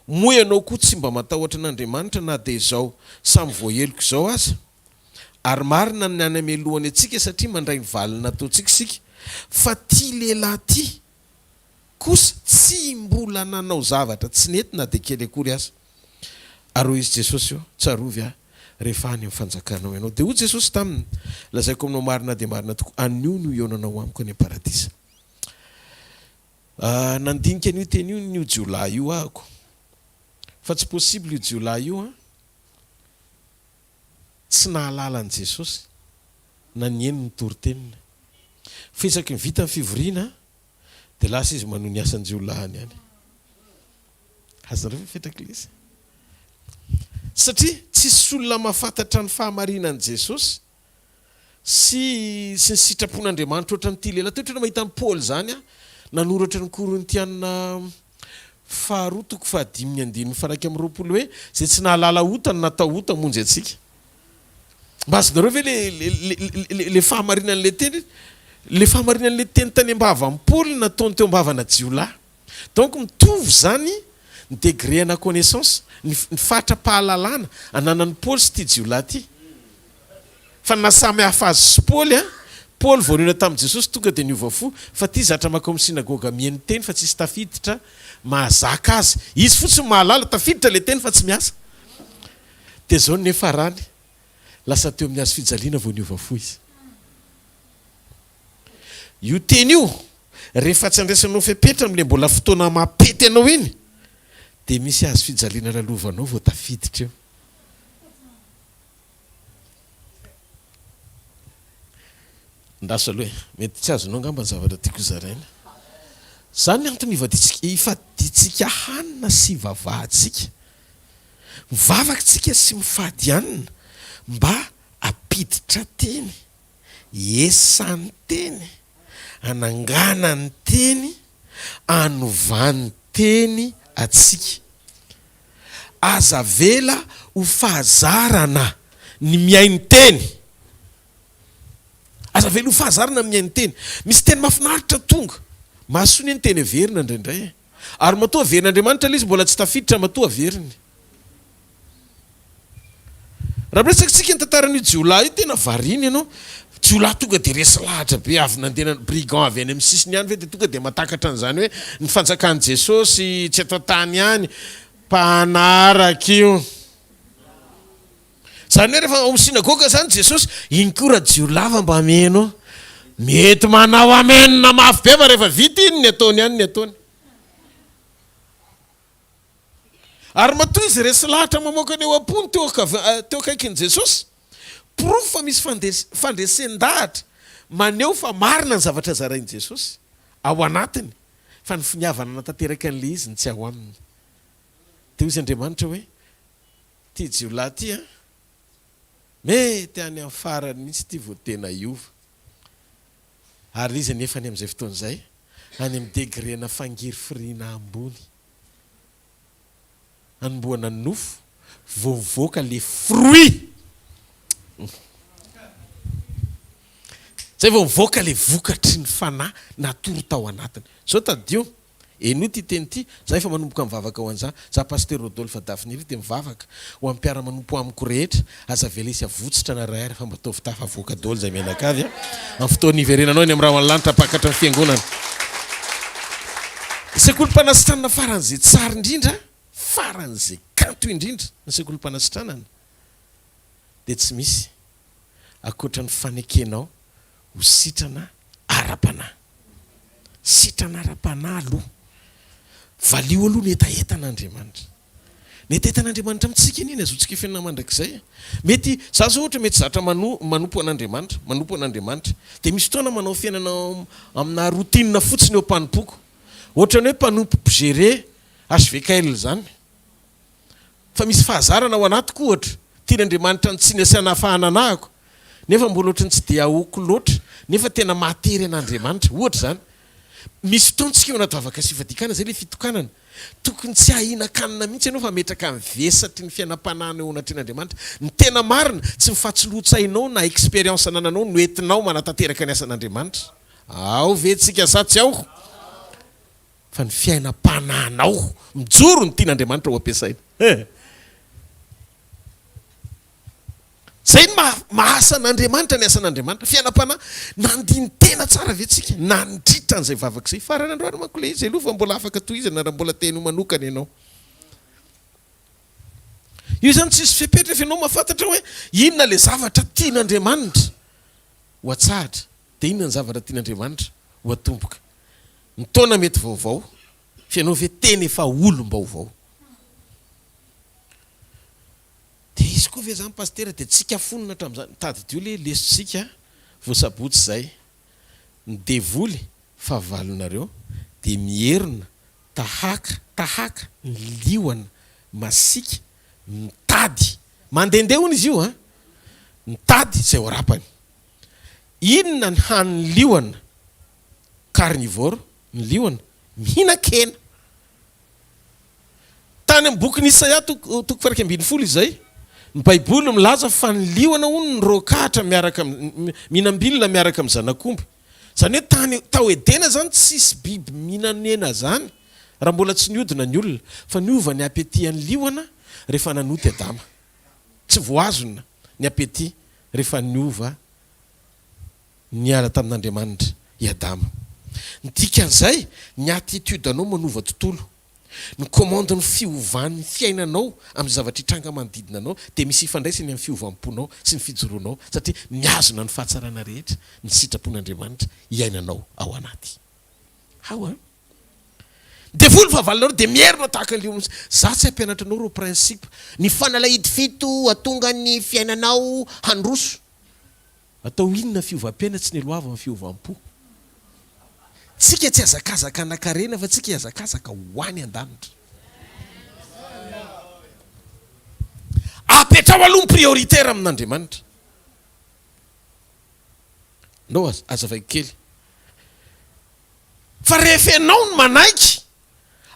Moa ianao koa tsy mba matahotra an'Andriamanitra na dia izao samy voaheloko izao aza? Ary marina ny any amelohany antsika satria mandray ny valiny nataontsika isika. Fa ity lehilahy ity kosa tsy mbola nanao zavatra tsy nety na dia kely akory aza. Ary hoy izy Jesosy eo, Tsarovy ahy rehefa any amin'ny fanjakanao ianao. Dia hoy Jesosy taminy, Lazaiko aminao marina dia marina tokoa, anio no hihaonanao amiko any am-paradisa. Ah, nandinika an'io teny io n'io jiolahy io ahako. Fa tsy possible io jiolahy io an! tsy nahalala an'i Jesosy na nihaino ny toriteniny. Fa isaky ny vita ny fivoriana dia lasa izy manohy ny asan-jiolahiny any. Azonareo ve fetra kilesa? Satria tsisy olona mahafantatra ny fahamarinan'i Jesosy. sy sy ny sitrapon'Andriamanitra ohatra an'ity lehilahy ity. Ohatra ny mahita an'i Paoly izany nanoratra ny Korintiana faharoa toko fahadimy ny andininy faharaika amby roapolo hoe, izay tsy nahalala ota no natao ota hamonjy antsika. Mba azonareo ve le le le le le fahamarinan'ilay teny? Le fahamarinan'ilay teny tany am-bavan'i Paoly no nataony teo am-bavana jiolahy. Donc mitovy izany ny degré ana connaissance, ny ny fatra-pahalalana ananan'i Paoly sy ity jiolahy ity. Fa ny nahasamy hafa azy sy Paoly an, Paoly vao nihaona tamin'i Jesosy tonga dia niova fo, fa ity zatra mankao amin'ny synagoga mihaino teny fa tsisy tafiditra mahazaka azy, izy fotsiny mahalala, tafiditra ilay teny fa tsy miasa. Dia zao ny niafarany, lasa teo amin'ny hazo fijaliana vao niova fo izy. Io teny io, rehefa tsy andraisanao fepetra amin'ilay mbola fotoana mampety anao iny, dia misy hazo fijaliana lalovanao vao tafiditra eo. Ndasy aloha e! Mety tsy azonao angamba ny zavatra tiako hozaraina. Izany ny antony ivadiantsika, ifadiantsika hanina sy ivavahantsika. Mivavaka isika sy mifady hanina mba hampiditra teny, hiesany teny, hananganany teny, hanovany teny antsika. Aza avela ho fahazarana ny mihaino-teny. Aza avela ho fahazarana ny mihaino-teny. Misy teny mahafinaritra tonga. Mahasoa anie ny teny heverina indraindray e! Ary matoa averin'Andriamanitra ilay izy mbola tsy tafiditra, matoa averiny. Raha miresaka tsika ny tantaran'io jiolahy io tena variana ianao, jiolahy tonga dia resy lahatra be avy nandena brigand avy any amin'ny sisiny any ve dia tonga dia matakatra an'izany hoe ny fanjakan'i Jesosy tsy eto an-tany ihany, mpanaraka io. Izany hoe rehefa ao amin'ny synagoga izany Jesosy, iny koa rajiolahy fa mba mieno, mety manao amen mafy be fa rehefa vita iny ny ataony any ny ataony. Ary matoa izy resy lahatra mamoaka ny ao am-pony teo akaikin'i Jesosy, porofo fa misy fandresen-dahatra maneho fa marina ny zavatra zarain'i Jesosy ao anatiny fa ny finiavana hanatanteraka an'ilay izy no tsy ao aminy. Dia hoy izy Andriamanitra hoe, Ity jiolahy ity an, mety any amin'ny farany mihitsy ity vao tena hiova. Ary izy anefa any amin'izay fotoana izay, any amin'ny degrena fangirifiriana ambony, anombohana ny nofo, vao mivoaka ilay fruit. Izay vao mivoaka ilay vokatry ny Fanahy natory tao anatiny. Izao tadidio. Henoy ity teny ity, Za efa manomboka mivavaka ho an'za. Za Pasitera Rodolphe Dafniry dia mivavaka ho an'ny mpiara-manompo amiko rehetra, aza velesy avotsitra na iray ary fa mba ataovy tafa avoaka daholo izay mianakavy a! Amin'ny fotoan'ny hiverenanao eny amin'ny rahona lanitra hampakatra ny fiangonana. Ny sekolim-panasitranana faran'izay tsara indrindra, faran'izay kanto indrindra ny sekolim-panasitranana dia tsy misy ankoatra ny fanekenao, ho sitrana ara-panahy. Sitrana ara-panahy aloha. Valio aloha ny hetahetan'Andriamanitra. Ny hetahetan'Andriamanitra amintsika anie ny hazoantsika hifenina mandrakizay. Mety, za zao ohatra mety zatra mano, manompo an'Andriamanitra, manompo an'Andriamanitra. Dia misy fotoana manao fiainana aminà routine fotsiny eo am-panompoako. Ohatran'ny hoe mpanompo mpigere HVKL zany. fa misy fahazarana ao anatiko ohatra, tian' Andriamanitra ny tsiny asiana hafahana anahako nefa mbola ohatry ny tsy dia ahoako loatra nefa tena mahatery an' Andriamanitra, ohatra izany misy fotoana tsika eo anaty vavaka sy fivadikana izay ilay fitokanana, tokony tsy hahinan-kanina mihitsy ianao fa ametraka ny vesatry ny fiainam-panahina eo anatrehan' Andriamanitra, ny tena marina tsy ny fatsiloan-tsainao na expérience anananao no entinao manatanteraka ny asan' Andriamanitra, ao ve tsika sa tsy ao? Fa ny fiainam-panahinao mijoro ny tian'Andriamanitra ho ampiasaina. He! Izay no maha, mahasa an'Andriamanitra ny asan'Andriamanitra. Fiainam-panahy. Nandini-tena tsara ve tsika nandritra an'izay vavaka izay? Farany androany manko ilay izy aloha fa mbola afaka tohizana raha mbola te henoy manokana ianao. Io izany tsisy fepetra fa ianao mahafantatra hoe inona ilay zavatra tian'Andriamanitra ho atsahatra. dia inona ny zavatra tian'Andriamanitra ho atomboka? Ny taona mety vaovao, fa ianao ve tena efa olom-baovao? Dia izy koa ve izany Pasitera dia tsika fonona hatramin'izany? Tadidio ilay lesotsika vao sabotsy izay. Ny devoly, fahavalonareo, dia mierona tahaka, tahaka ny liona masiaka mitady, mandehandeha hono izy io an! mitady izay ho arapany. Inona ny hanin'ny liona? Carnivore ny liona, mihinan-kena. Tany amin'ny bokin'i Isaia toko toko faha-iraika ambin'ny folo izay, ny Baiboly milaza fa ny liona hono nirôkatra miaraka amin'ny, mihinam-bilona miaraka amin'ny zanak'omby. Izany hoe tany, tao Edena izany tsisy biby mihinan-hena izany raha mbola tsy niodina ny olona. Fa niova ny appétit an'ny liona rehefa nanota i Adama. Tsy voahazona ny appétit rehefa niova niala tamin'Andriamanitra i Adama. Ny dikan'izay, ny attitude anao manova tontolo. Ny commande ny fiovan'ny fiainanao amin'ny zavatra hitranga manodidina anao dia misy ifandraisany amin'ny fiovam-ponao sy ny fijoroanao satria mihazona ny fahatsarana rehetra ny sitrapon'Andriamanitra iainanao ao anaty. How a? Ny devoly fahavalonareo dia mierona tahaka ny liona. Za tsy hampianatra anao ireo principe. Ny fanalahidy fito hatonga ny fiainanao handroso. Atao inona fiovam-piaina tsy niloavan'ny fiovam-po. Tsika tsy hazakazaka hanankarena fa tsika hihazakazaka ho any an-danitra. Apetraho aloha ny prioritaire amin'Andriamanitra. Ndao azavaiko kely Fa rehefa ianao no manaiky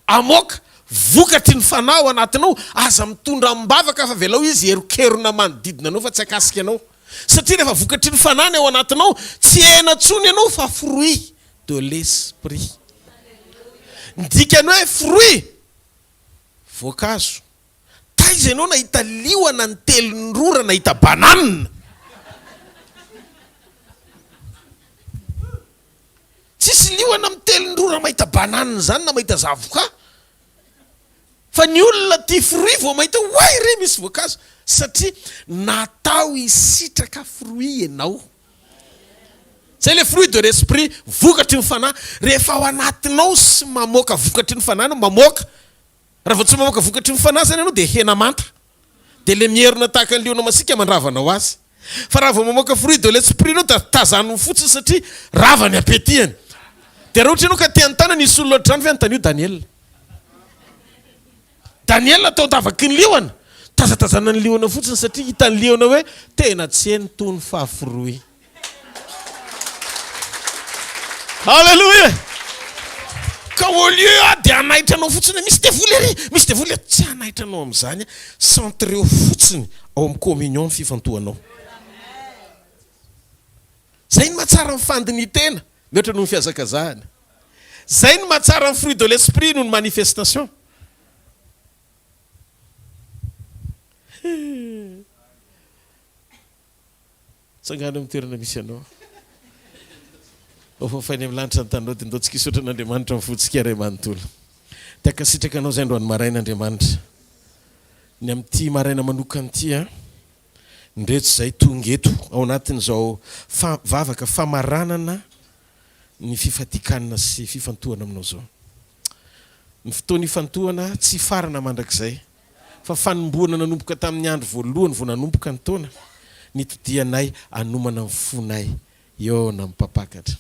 hamoaka vokatry ny fanahy ao anatinao, aza mitondra amim-bavaka fa avelao izy hieronkerona manodidina anao fa tsy hakasika anao. Satria rehefa vokatry ny fanahy ny ao anatinao, tsy hena intsony ianao fa fruit de l'esprit. Ny dikan'ny hoe fruit, voankazo, Taiza ianao nahita liona ny telon'ny rora nahita banane? Tsisy liona amin'ny telon'ny rora mahita banane zany na mahita zavoka fa ny olona tia fruit vao mahita hoe oay re misy voankazo satria natao hisitraka fruit ianao. Zay le fruit de l'esprit, vokatry ny fanahy, rehefa ao anatinao sy mamoaka vokatry ny fanahy no mamoaka, Raha vao tsy mamoaka vokatry ny fanasana ianao dia hena manta. Dia ilay mierona tahaka ny liona masiaka mandrava anao azy. Fa raha vao mamoaka fruit de l'esprit ianao dia tazaniny fotsiny satria rava ny appetit'any. Dia raha ohatra ianao ka te hanontana nisy olona ohatra izany ve anontanio Daniela. Daniela tao davaky ny liona. Tazatazanan'ny liona fotsiny satria hitan'ny liona hoe tena tsy heno toa ny faha fruit. Alléluia Ka au lieu aho dia hanaitra anao fotsiny hoe misy devoly ery, misy devoly ery, tsy hanaitra anao amin'izany aho, centreo fotsiny ao amin'ny communion ny fifantohanao. Zay no mahatsara ny fandinitena mihoatra noho ny fihazakazahana. Zay no mahatsara ny fruit de l'esprit noho ny manifestation. Tsangano amin'ny toerana misy anao. Hofafainy amin'ny lanitra ny taninao dia ndao tsikaisotra an'Andriamanitra amin'ny fontsika Ray manontolo. Te-hankasitraka anao izay androany maraina Andriamanitra. Ny amin'ity maraina manokana ity an, ndretsy izay tonga eto ao anatin'izao fa vavaka famaranana ny fifadikanana sy fifantohana aminao izao. Ny fotoana ifantohana tsy hifarana mandrakizay fa fanombohana nanomboka tamin'ny andro voalohany vao nanomboka ny taona, nitodihanay hanomana ny fonay hihaona amin'ny Mpampakatra.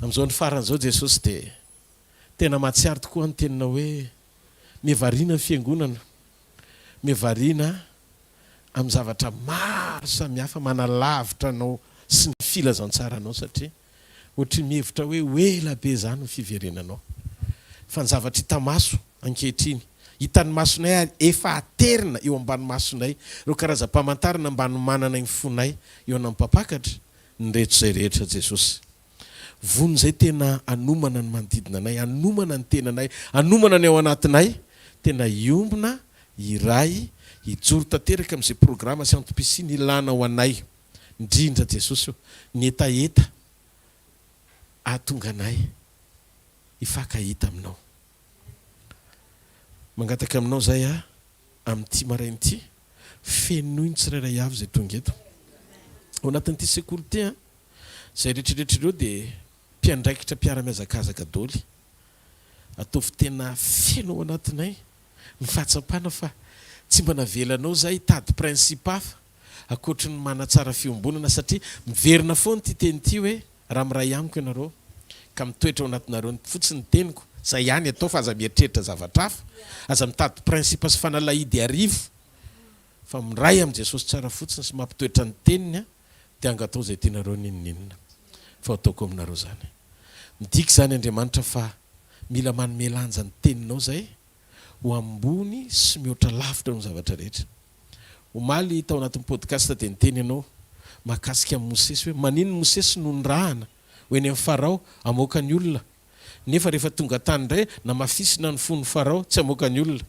Amin'izao andro farany izao, Jesosy dia tena mahatsiaro tokoa ny teninao hoe, Miha variana ny Fiangonana. Miha variana amin'ny zavatra maro samihafa manalavitra anao sy ny filazantsaranao, satria Ohatry ny mihevitra hoe ho ela be izany ny fiverenanao. Fa ny zavatra hita maso, ankehitriny. Hitan'ny masonay ary efa aterina eo ambany masonay ireo karazam-pamantarana mba hanomananay ny fonay eo anam-pampakatra, ny reto izay rehetra, Jesosy. Vono izay tena hanomana ny manodidina anay, hanomana ny tenanay, hanomana ny ao anatinay, tena hiombona, hiray, hijoro tanteraka amin'izay programa sy antom-pisiany ilana ho anay. Midrindra Jesosy eo. Ny hetaheta hahatonga anay hifankahita Aminao. Mangataka Aminao izay aho amin'ity maraina ity. Fenoy ny tsirairay avy izay tonga eto. Ao anatin'ity sekoly ity, izay rehetrarehetra ireo dia mpiandraikitra mpiara-mihazakazaka doly. Ataovy tena feno ao anatinay ny fahatsapana fa tsy mba navelanao izahay hitady principe hafa ankoatry ny manatsara fiombonana satria miverina foana ity teny ity hoe raha miray amiko ianareo ka mitoetra ao anatinareo ny fotsiny ny teniko izay ihany atao fa aza mieritreritra zavatra hafa aza mitady principe sy fanalahidy arivo fa miray amin'i Jesosy tsara fotsiny sy mampitoetra ny teniny a dia anga atao izay tianareo n'inon'inona fa ataoko aminareo izany midika izany Andriamanitra fa mila manome lanja ny teninao izay ho ambony sy mihoatra lavitra noho ny zavatra rehetra Omaly tao anatin'ny podcast dia niteny ianao mahakasika an'i Mosesy hoe maninona Mosesy no nirahana ho eny amin'ny Farao hamoaka ny olona nefa rehefa tonga tany indray namafisina ny fon'i Farao tsy hamoaka ny olona.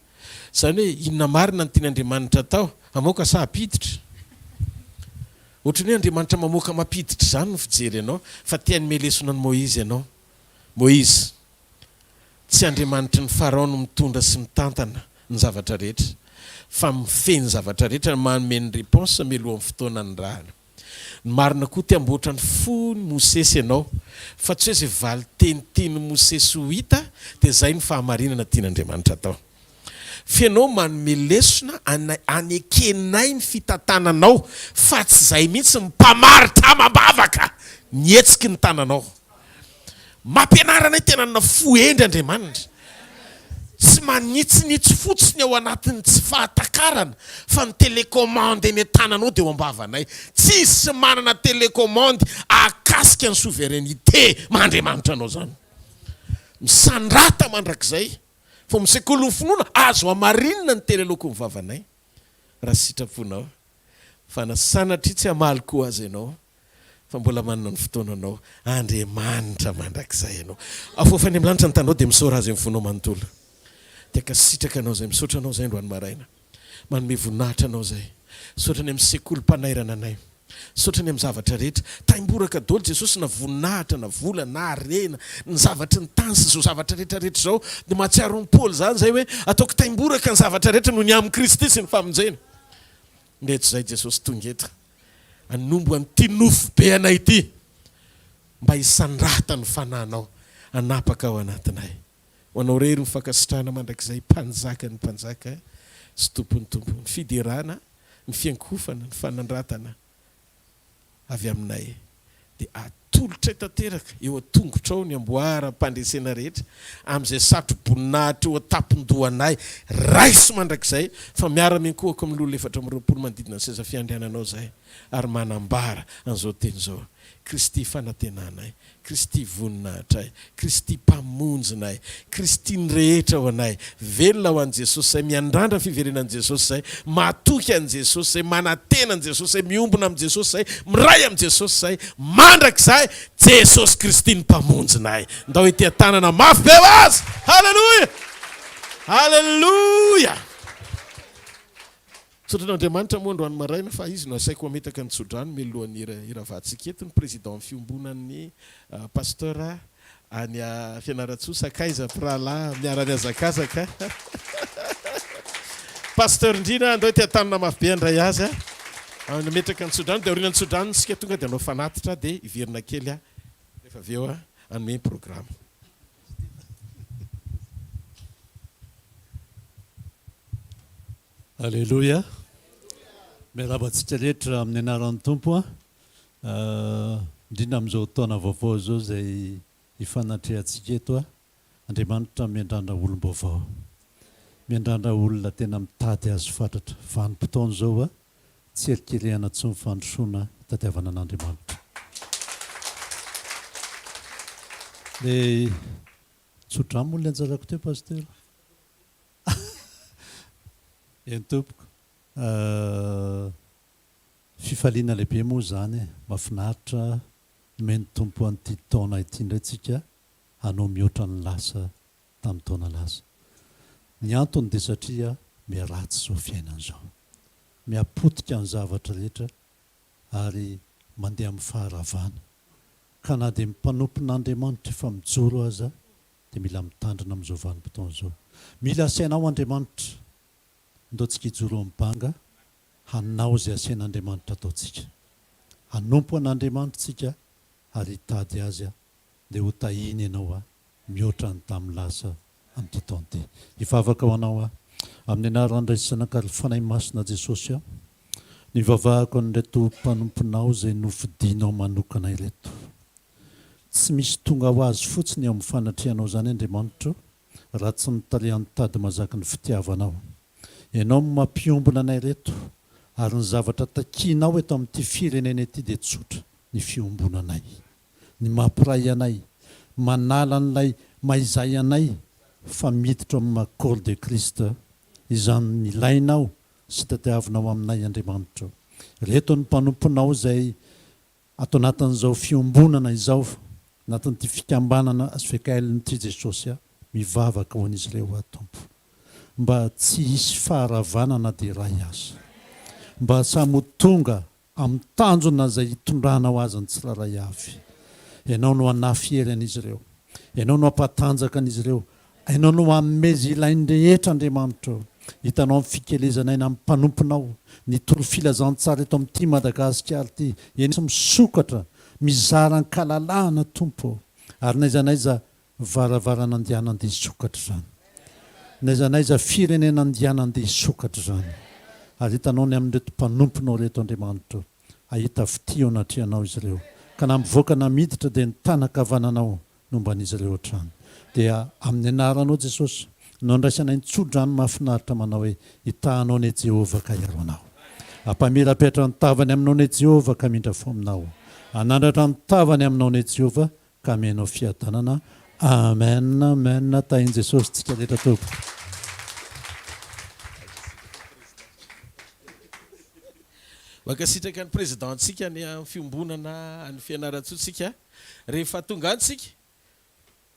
Izany hoe inona marina no tian' Andriamanitra atao? Hamoaka sa hampiditra? Ohatran'ny hoe Andriamanitra mamoaka mampiditra izany ny fijery anao fa te hanome lesona an'i Moizy ianao. Moizy. Tsy Andriamanitry ny Farao no mitondra sy mitantana ny zavatra rehetra fa mifehy ny zavatra rehetra no manome ny reponse mialohan'ny fotoana nirahana. Ny marina koa te hamboatra ny fon'i Mosesy ianao fa tsy hoe izay valin-teny tian'i Mosesy ho hita dia izay no fahamarinana tian'Andriamanitra atao. Fa ianao manome lesona anay hanekenay ny fitantananao fa tsy izay mihitsy ny mpamaritr amam-bavaka ny hetsiky ny tananao. Mampianara anay tena hanana fo hendry Andriamanitra. Tsy manitsinitsy fotsiny ao anatin'ny tsy fahatakarana fa ny telecommande eny an-tananao dia eo am-bavanay. Tsisy manana telecommande ahakasika ny souveraineté maha-Andriamanitra anao izany. Misandrata mandrakizay fa amin'ny sekolin'ny finoana azo hamarinina ny telelokon'ny vavanay raha sitraponao. Fa na sanatria tsy hamaly koa aza ianao Fa mbola manana ny fotoananao Andriamanitra mandrakizay anao. Afoafo any amin'ny lanitra ny tanao dia misaora Azy amin'ny fonao manontolo. Dia ankasitraka anao izay misaotra anao izay androany maraina. Manome voninahitra anao izay. Misaotra ny amin'ny sekolim-panairana anay. Misaotra ny amin'ny zavatra rehetra. Taimboraka daholo Jesosy na voninahitra na vola na harena, ny zavatry ny tany sy izao zavatra rehetra rehetra izao. Dia mahatsiaro an'i Paoly izany izay hoe ataoko taimboraka ny zavatra rehetra noho ny amin'i Kristy sy ny famonjena. Nge tsy zay Jesosy tonga eto hanombo an'ity nofo be anay ity mba hisandrata ny Fanahinao hanapaka ao anatinay. Ho Anao irery ny fankasitrahana mandrakizay Mpanjakan'ny mpanjaka sy Tompon'ny tompo. Ny fiderana, ny fiankohofana, ny fanandratana avy Aminay, dia hatolotray tanteraka eo an-tongotrao ny amboaram-pandresena rehetra, amin'izay satro-boninahitra eo an-tampon-dohanay, raiso mandrakizay, fa miara-miankohoka amin'ny loholona efatra amby roapolo manodidina ny seza fiandriananao izay, ary manambara an'izao teny izao, Kristy fanantenanay, Kristy Voninahitray, Kristy Mpamonjinay, Kristy ny rehetra ho anay, velona ho an'i Jesosy izay, miandrandra fiverenan'i Jesosy izay, matoky an'i Jesosy izay, manantena an'i Jesosy izay, miombona amin'i Jesosy izay, miray amin'i Jesosy izay, mandrakizay, Jesosy Kristy ny Mpamonjinay! Ndao hitia tanana mafy be ho Azy! Haleloia! Haleloia! Tsodran'Andriamanitra moa androany maraina fa izy no asaiko hametaka ny tsodrano mialohan'ny hiravantsika eto ny président ny fiombonan'ny Pasteur any Fianarantsoa sakaiza mpirahalahy miara miazakazaka Pasteur Ndrina andao ety antanona mafy be handray azy hametraka ny tsodrano dia aorian'ny tsodrano isika tonga dia hanao fanatitra dia hiverina kely aho rehefa avy eo hanome ny programme. Aleloia! Miarahaba antsika rehetra amin'ny anaran'ny Tompo an! Indrindra amin'izao taona vaovao izao izay ifanatrehantsika eto an! Andriamanitra miandrandra olom-baovao. Miandrandra olona tena mitady Azy fatratra. Vanim-potoana izao an! Tsy erikerehana intsony ny fandrosoana itadiavana an'Andriamanitra. Le tso-drano moa ilay anjarako teo Pasitera. Eny tompoko ah, fifaliana lehibe moa izany e, mafinaritra nomen'ny Tompo an'ity taona ity indray tsika hanao mihoatra ny lasa tamin'ny taona lasa. Ny antony dia satria miharatsy izao fiainana izao, mihapotika ny zavatra rehetra ary mandeha amin'ny faharavana ka na dia ny mpanompon'Andriamanitra efa mijoro aza Dia mila mitandrina amin'izao vanim-potoana izao. Mila asaina ao Andriamanitra. Ndao tsika hijoro eo amin'ny banga hanao izay asain'Andriamanitra hataontsika. Hanompo an'Andriamanitra tsika ary hitady Azy dia ho tahiny ianao a! mihoatra ny tamin'ny lasa amin'ity taona ity. Hivavaka ho anao aho. Amin'ny anaran'ny Ray sy Zanaka ary Fanahy Masina Jesosy aho. Nivavahako an'ireto mpanomponao izay nofidinao manokana ireto. Tsy misy tonga ho azy fotsiny eo amin'ny fanatrehanao izany Andriamanitro raha tsy mitariha ny tady mazaky ny fitiavanao. Ianao no mampiombona anay ireto ary ny zavatra takianao eto amin'ity firenena ity dia tsotra, ny fiombonanay. Ny mampiray anay, manala an'ilay mahizay anay fa miditra ao amin'ny maha-corps de Christ izany nilainao sy tadiavinao aminay Andriamanitro. Ireto ny mpanomponao izay Ato anatin'izao fiombonana izao, anatin'ity fikambanana svkl nity Jesosy aho mivavaka ho an'izy ireo aho Tompo. Mba tsy hisy faharavana na dia iray aza. Mba samy ho tonga amin'ny tanjona izay hitondranao azy ny tsirairay avy. Ianao no hanafy hery an'izy ireo. Ianao no hampatanjaka an'izy ireo Ianao no hanome izay ilainy rehetra Andriamanitra o! Hitanao ny fikelezana aina amin'ny mpanomponao ny tory filazantsara eto amin'ny tim Madagasikara ity eny sy misokatra mizara an-kalalahana Tompo o! Ary n'aiza n'aiza varavarana andiana andeha hisokatra izany. N'aiza n'aiza firenena andiana andeha hisokatra izany. Ary hitanao ny amin'ireto mpanomponao ireto Andriamanitra o! Hahita fitia eo anatrehanao izy ireo ka na mivoaka na miditra dia ny tanan-kavananao nomban'izy ireo hatrany. Dia amin'ny anaranao Jesosy no andraisanay ny tsodrano mahafinaritra manao hoe, Hitahanao anie Jehovah ka hiaro anao. Hampamirapiratra ny tavany aminao anie Jehovah ka hamindra fo aminao. Hanandratra ny tavany aminao anie Jehovah ka hame anao fiadanana. Amen, Amen, Tahin'i Jesosy tsika rehetra tompoko. Mankasitraka ny Président-tsika any amin'ny fiombonana any Fianarantsoa tsika. Rehefa tonga any tsika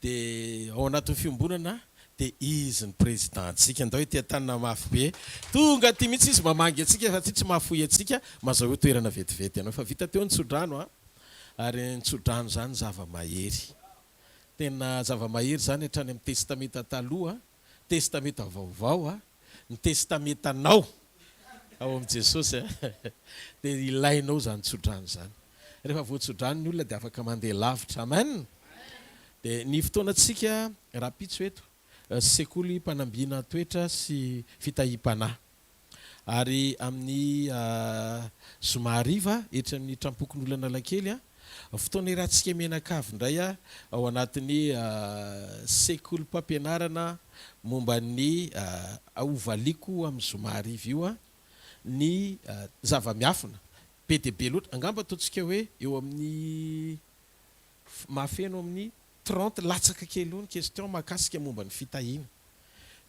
de ao anatin'ny fiombonana de izy ny président tsika ndao ety an-tanana mafy be tonga aty mihitsy izy mamangy antsika fa aty tsy mahafoy antsika mazahoa toerana vetivety anao fa vita teo ny tsodrano a ary ny tsodrano zany zava-mahery tena zava-mahery zany hatrany amin'ny testamenta taloha a. Testamenta Vaovao a, ny testamentanao ao amin'i Jesosy a, dia ilainao izany tsodrano izany. Rehefa voatsodrano ny olona dia afaka mandeha lavitra. Amen! Dia ny fotoanantsika rahampitso eto, Sekoly Mpanambina Toetra sy Fitahiam-panahy. ary amin'ny zoma hariva etsy amin'ny Trampokon'Olanalakely, fotoana iarahantsika mianakavy indray ao anatin'ny sekolim-pampianarana momba ny Hovaliako amin'ny zoma hariva io ny zava-miafina be dia be loatra, angamba ataontsika hoe eo amin'ny mahafeno amin'ny. Trente latsaka kely eo ny question mahakasika momba ny fitahiana.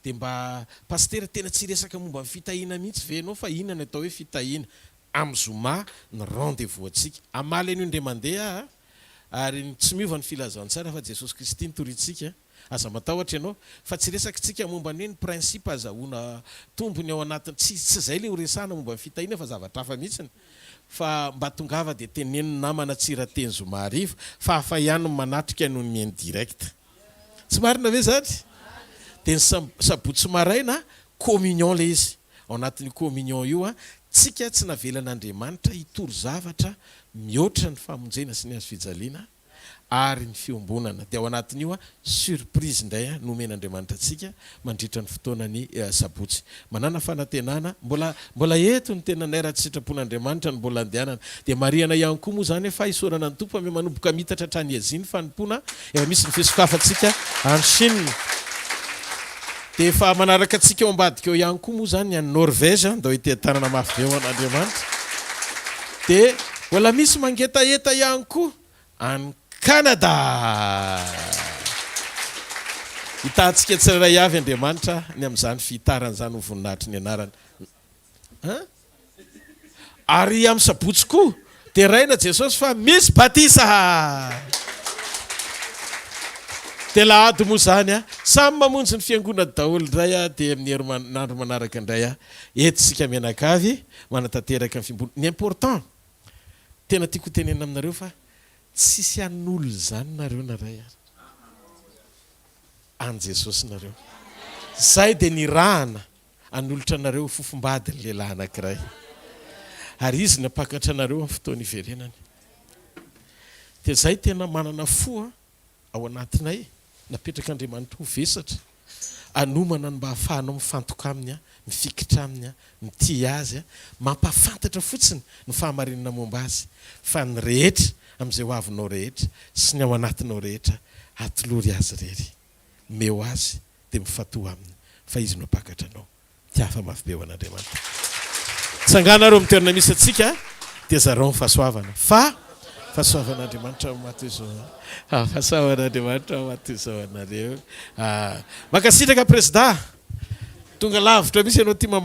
Dia mba Pasitera tena tsy hiresaka momba ny fitahiana mihitsy ve ianao fa inona ny atao hoe fitahiana? Amin'ny zoma ny rendez vous antsika. Hamaly an'io indray mandeha aho a! Ary ny tsy miova ny filazantsara fa Jesosy Kristy no toriantsika a! Aza matahotra ianao fa tsy resakitsika momba ny hoe ny principe azahoana tombony ao anatin'ny, tsy izay ilay horesahana momba ny fitahiana fa zavatra hafa mihitsy ny. fa mba tongava dia teneno ny namana Tsirateny zoma hariva fa hafa ihany ny manatrika noho ny en direct. Tsy marina ve izany? Dia ny sabotsy maraina communion ilay izy, ao anatin'io communion io an, tsika tsy navelan'Andriamanitra hitory zavatra mihoatra ny famonjena sy ny hazo fijaliana, ary ny fiombonana dia ao anatin'io surprise indray nomen'Andriamanitra antsika mandritra ny fotoanan'ny sabotsy. Manàna fanantenana, mbola mbola eto ny tenanay raha tsy sitrapon'Andriamanitra ny mbola andehanana. Dia marihana ihany koa moa izany hoe fahisorana ny Tompo fa miha-manomboka miitatra hatrany Azia ny fanompoana, efa misy ny fisokafantsika any Chine. Dia efa manaraka antsika ao ambadika ao ihany koa moa izany any Norvège, andao ity tanana mafy be ho an'Andriamanitra. Dia mbola misy mangetaheta ihany koa any Canada. Hitahantsika tsirairay avy Andriamanitra ny amin'izany fihitarana izany ho voninahitry ny anarany. Ary amin'ny sabotsy koa, deraina Jesosy fa misy batisa! Dia lahady moa izany a! Samy mamonjy ny fiangonany daholo indray a! Dia amin'ny herinandro manaraka indray a! Eto isika mianakavy manatanteraka ny fimboly. Ny important, tena tiako hotenenina aminareo fa tsisy hanolo izany nareo na iray ary. An'i Jesosy nareo. Izay dia nirahana. Hanolotra anareo ho fofombady ny lehilahy anankiray, ary izy ny hampakatra anareo amin'ny fotoana hiverenany. Dia izahay tena manana fo ao anatinay, napetrak'Andriamanitra ho vesatra, hanomana ny mba hahafahanao mifantoka Aminy, mifikitra Aminy, mitia Azy, mampahafantatra fotsiny ny fahamarinana momba Azy, fa ny rehetra amin'izay ho avinao rehetra sy ny ao anatinao rehetra, atolory Azy irery. Omeo Azy dia mifantoha aminy fa izy no mpakatra anao. Tiafa mafy be ho an'Andriamanitra. Tsangana ary eo amin'ny toerana misy antsika dia zarao ny fahasoavana fa fahasoavan'Andriamanitra no mahatonga izao ah, fahasoavan'Andriamanitra no mahatonga izao anareo ah. Mankasitraka Prezda, tonga lavitra mihitsy ianao ity mamaha.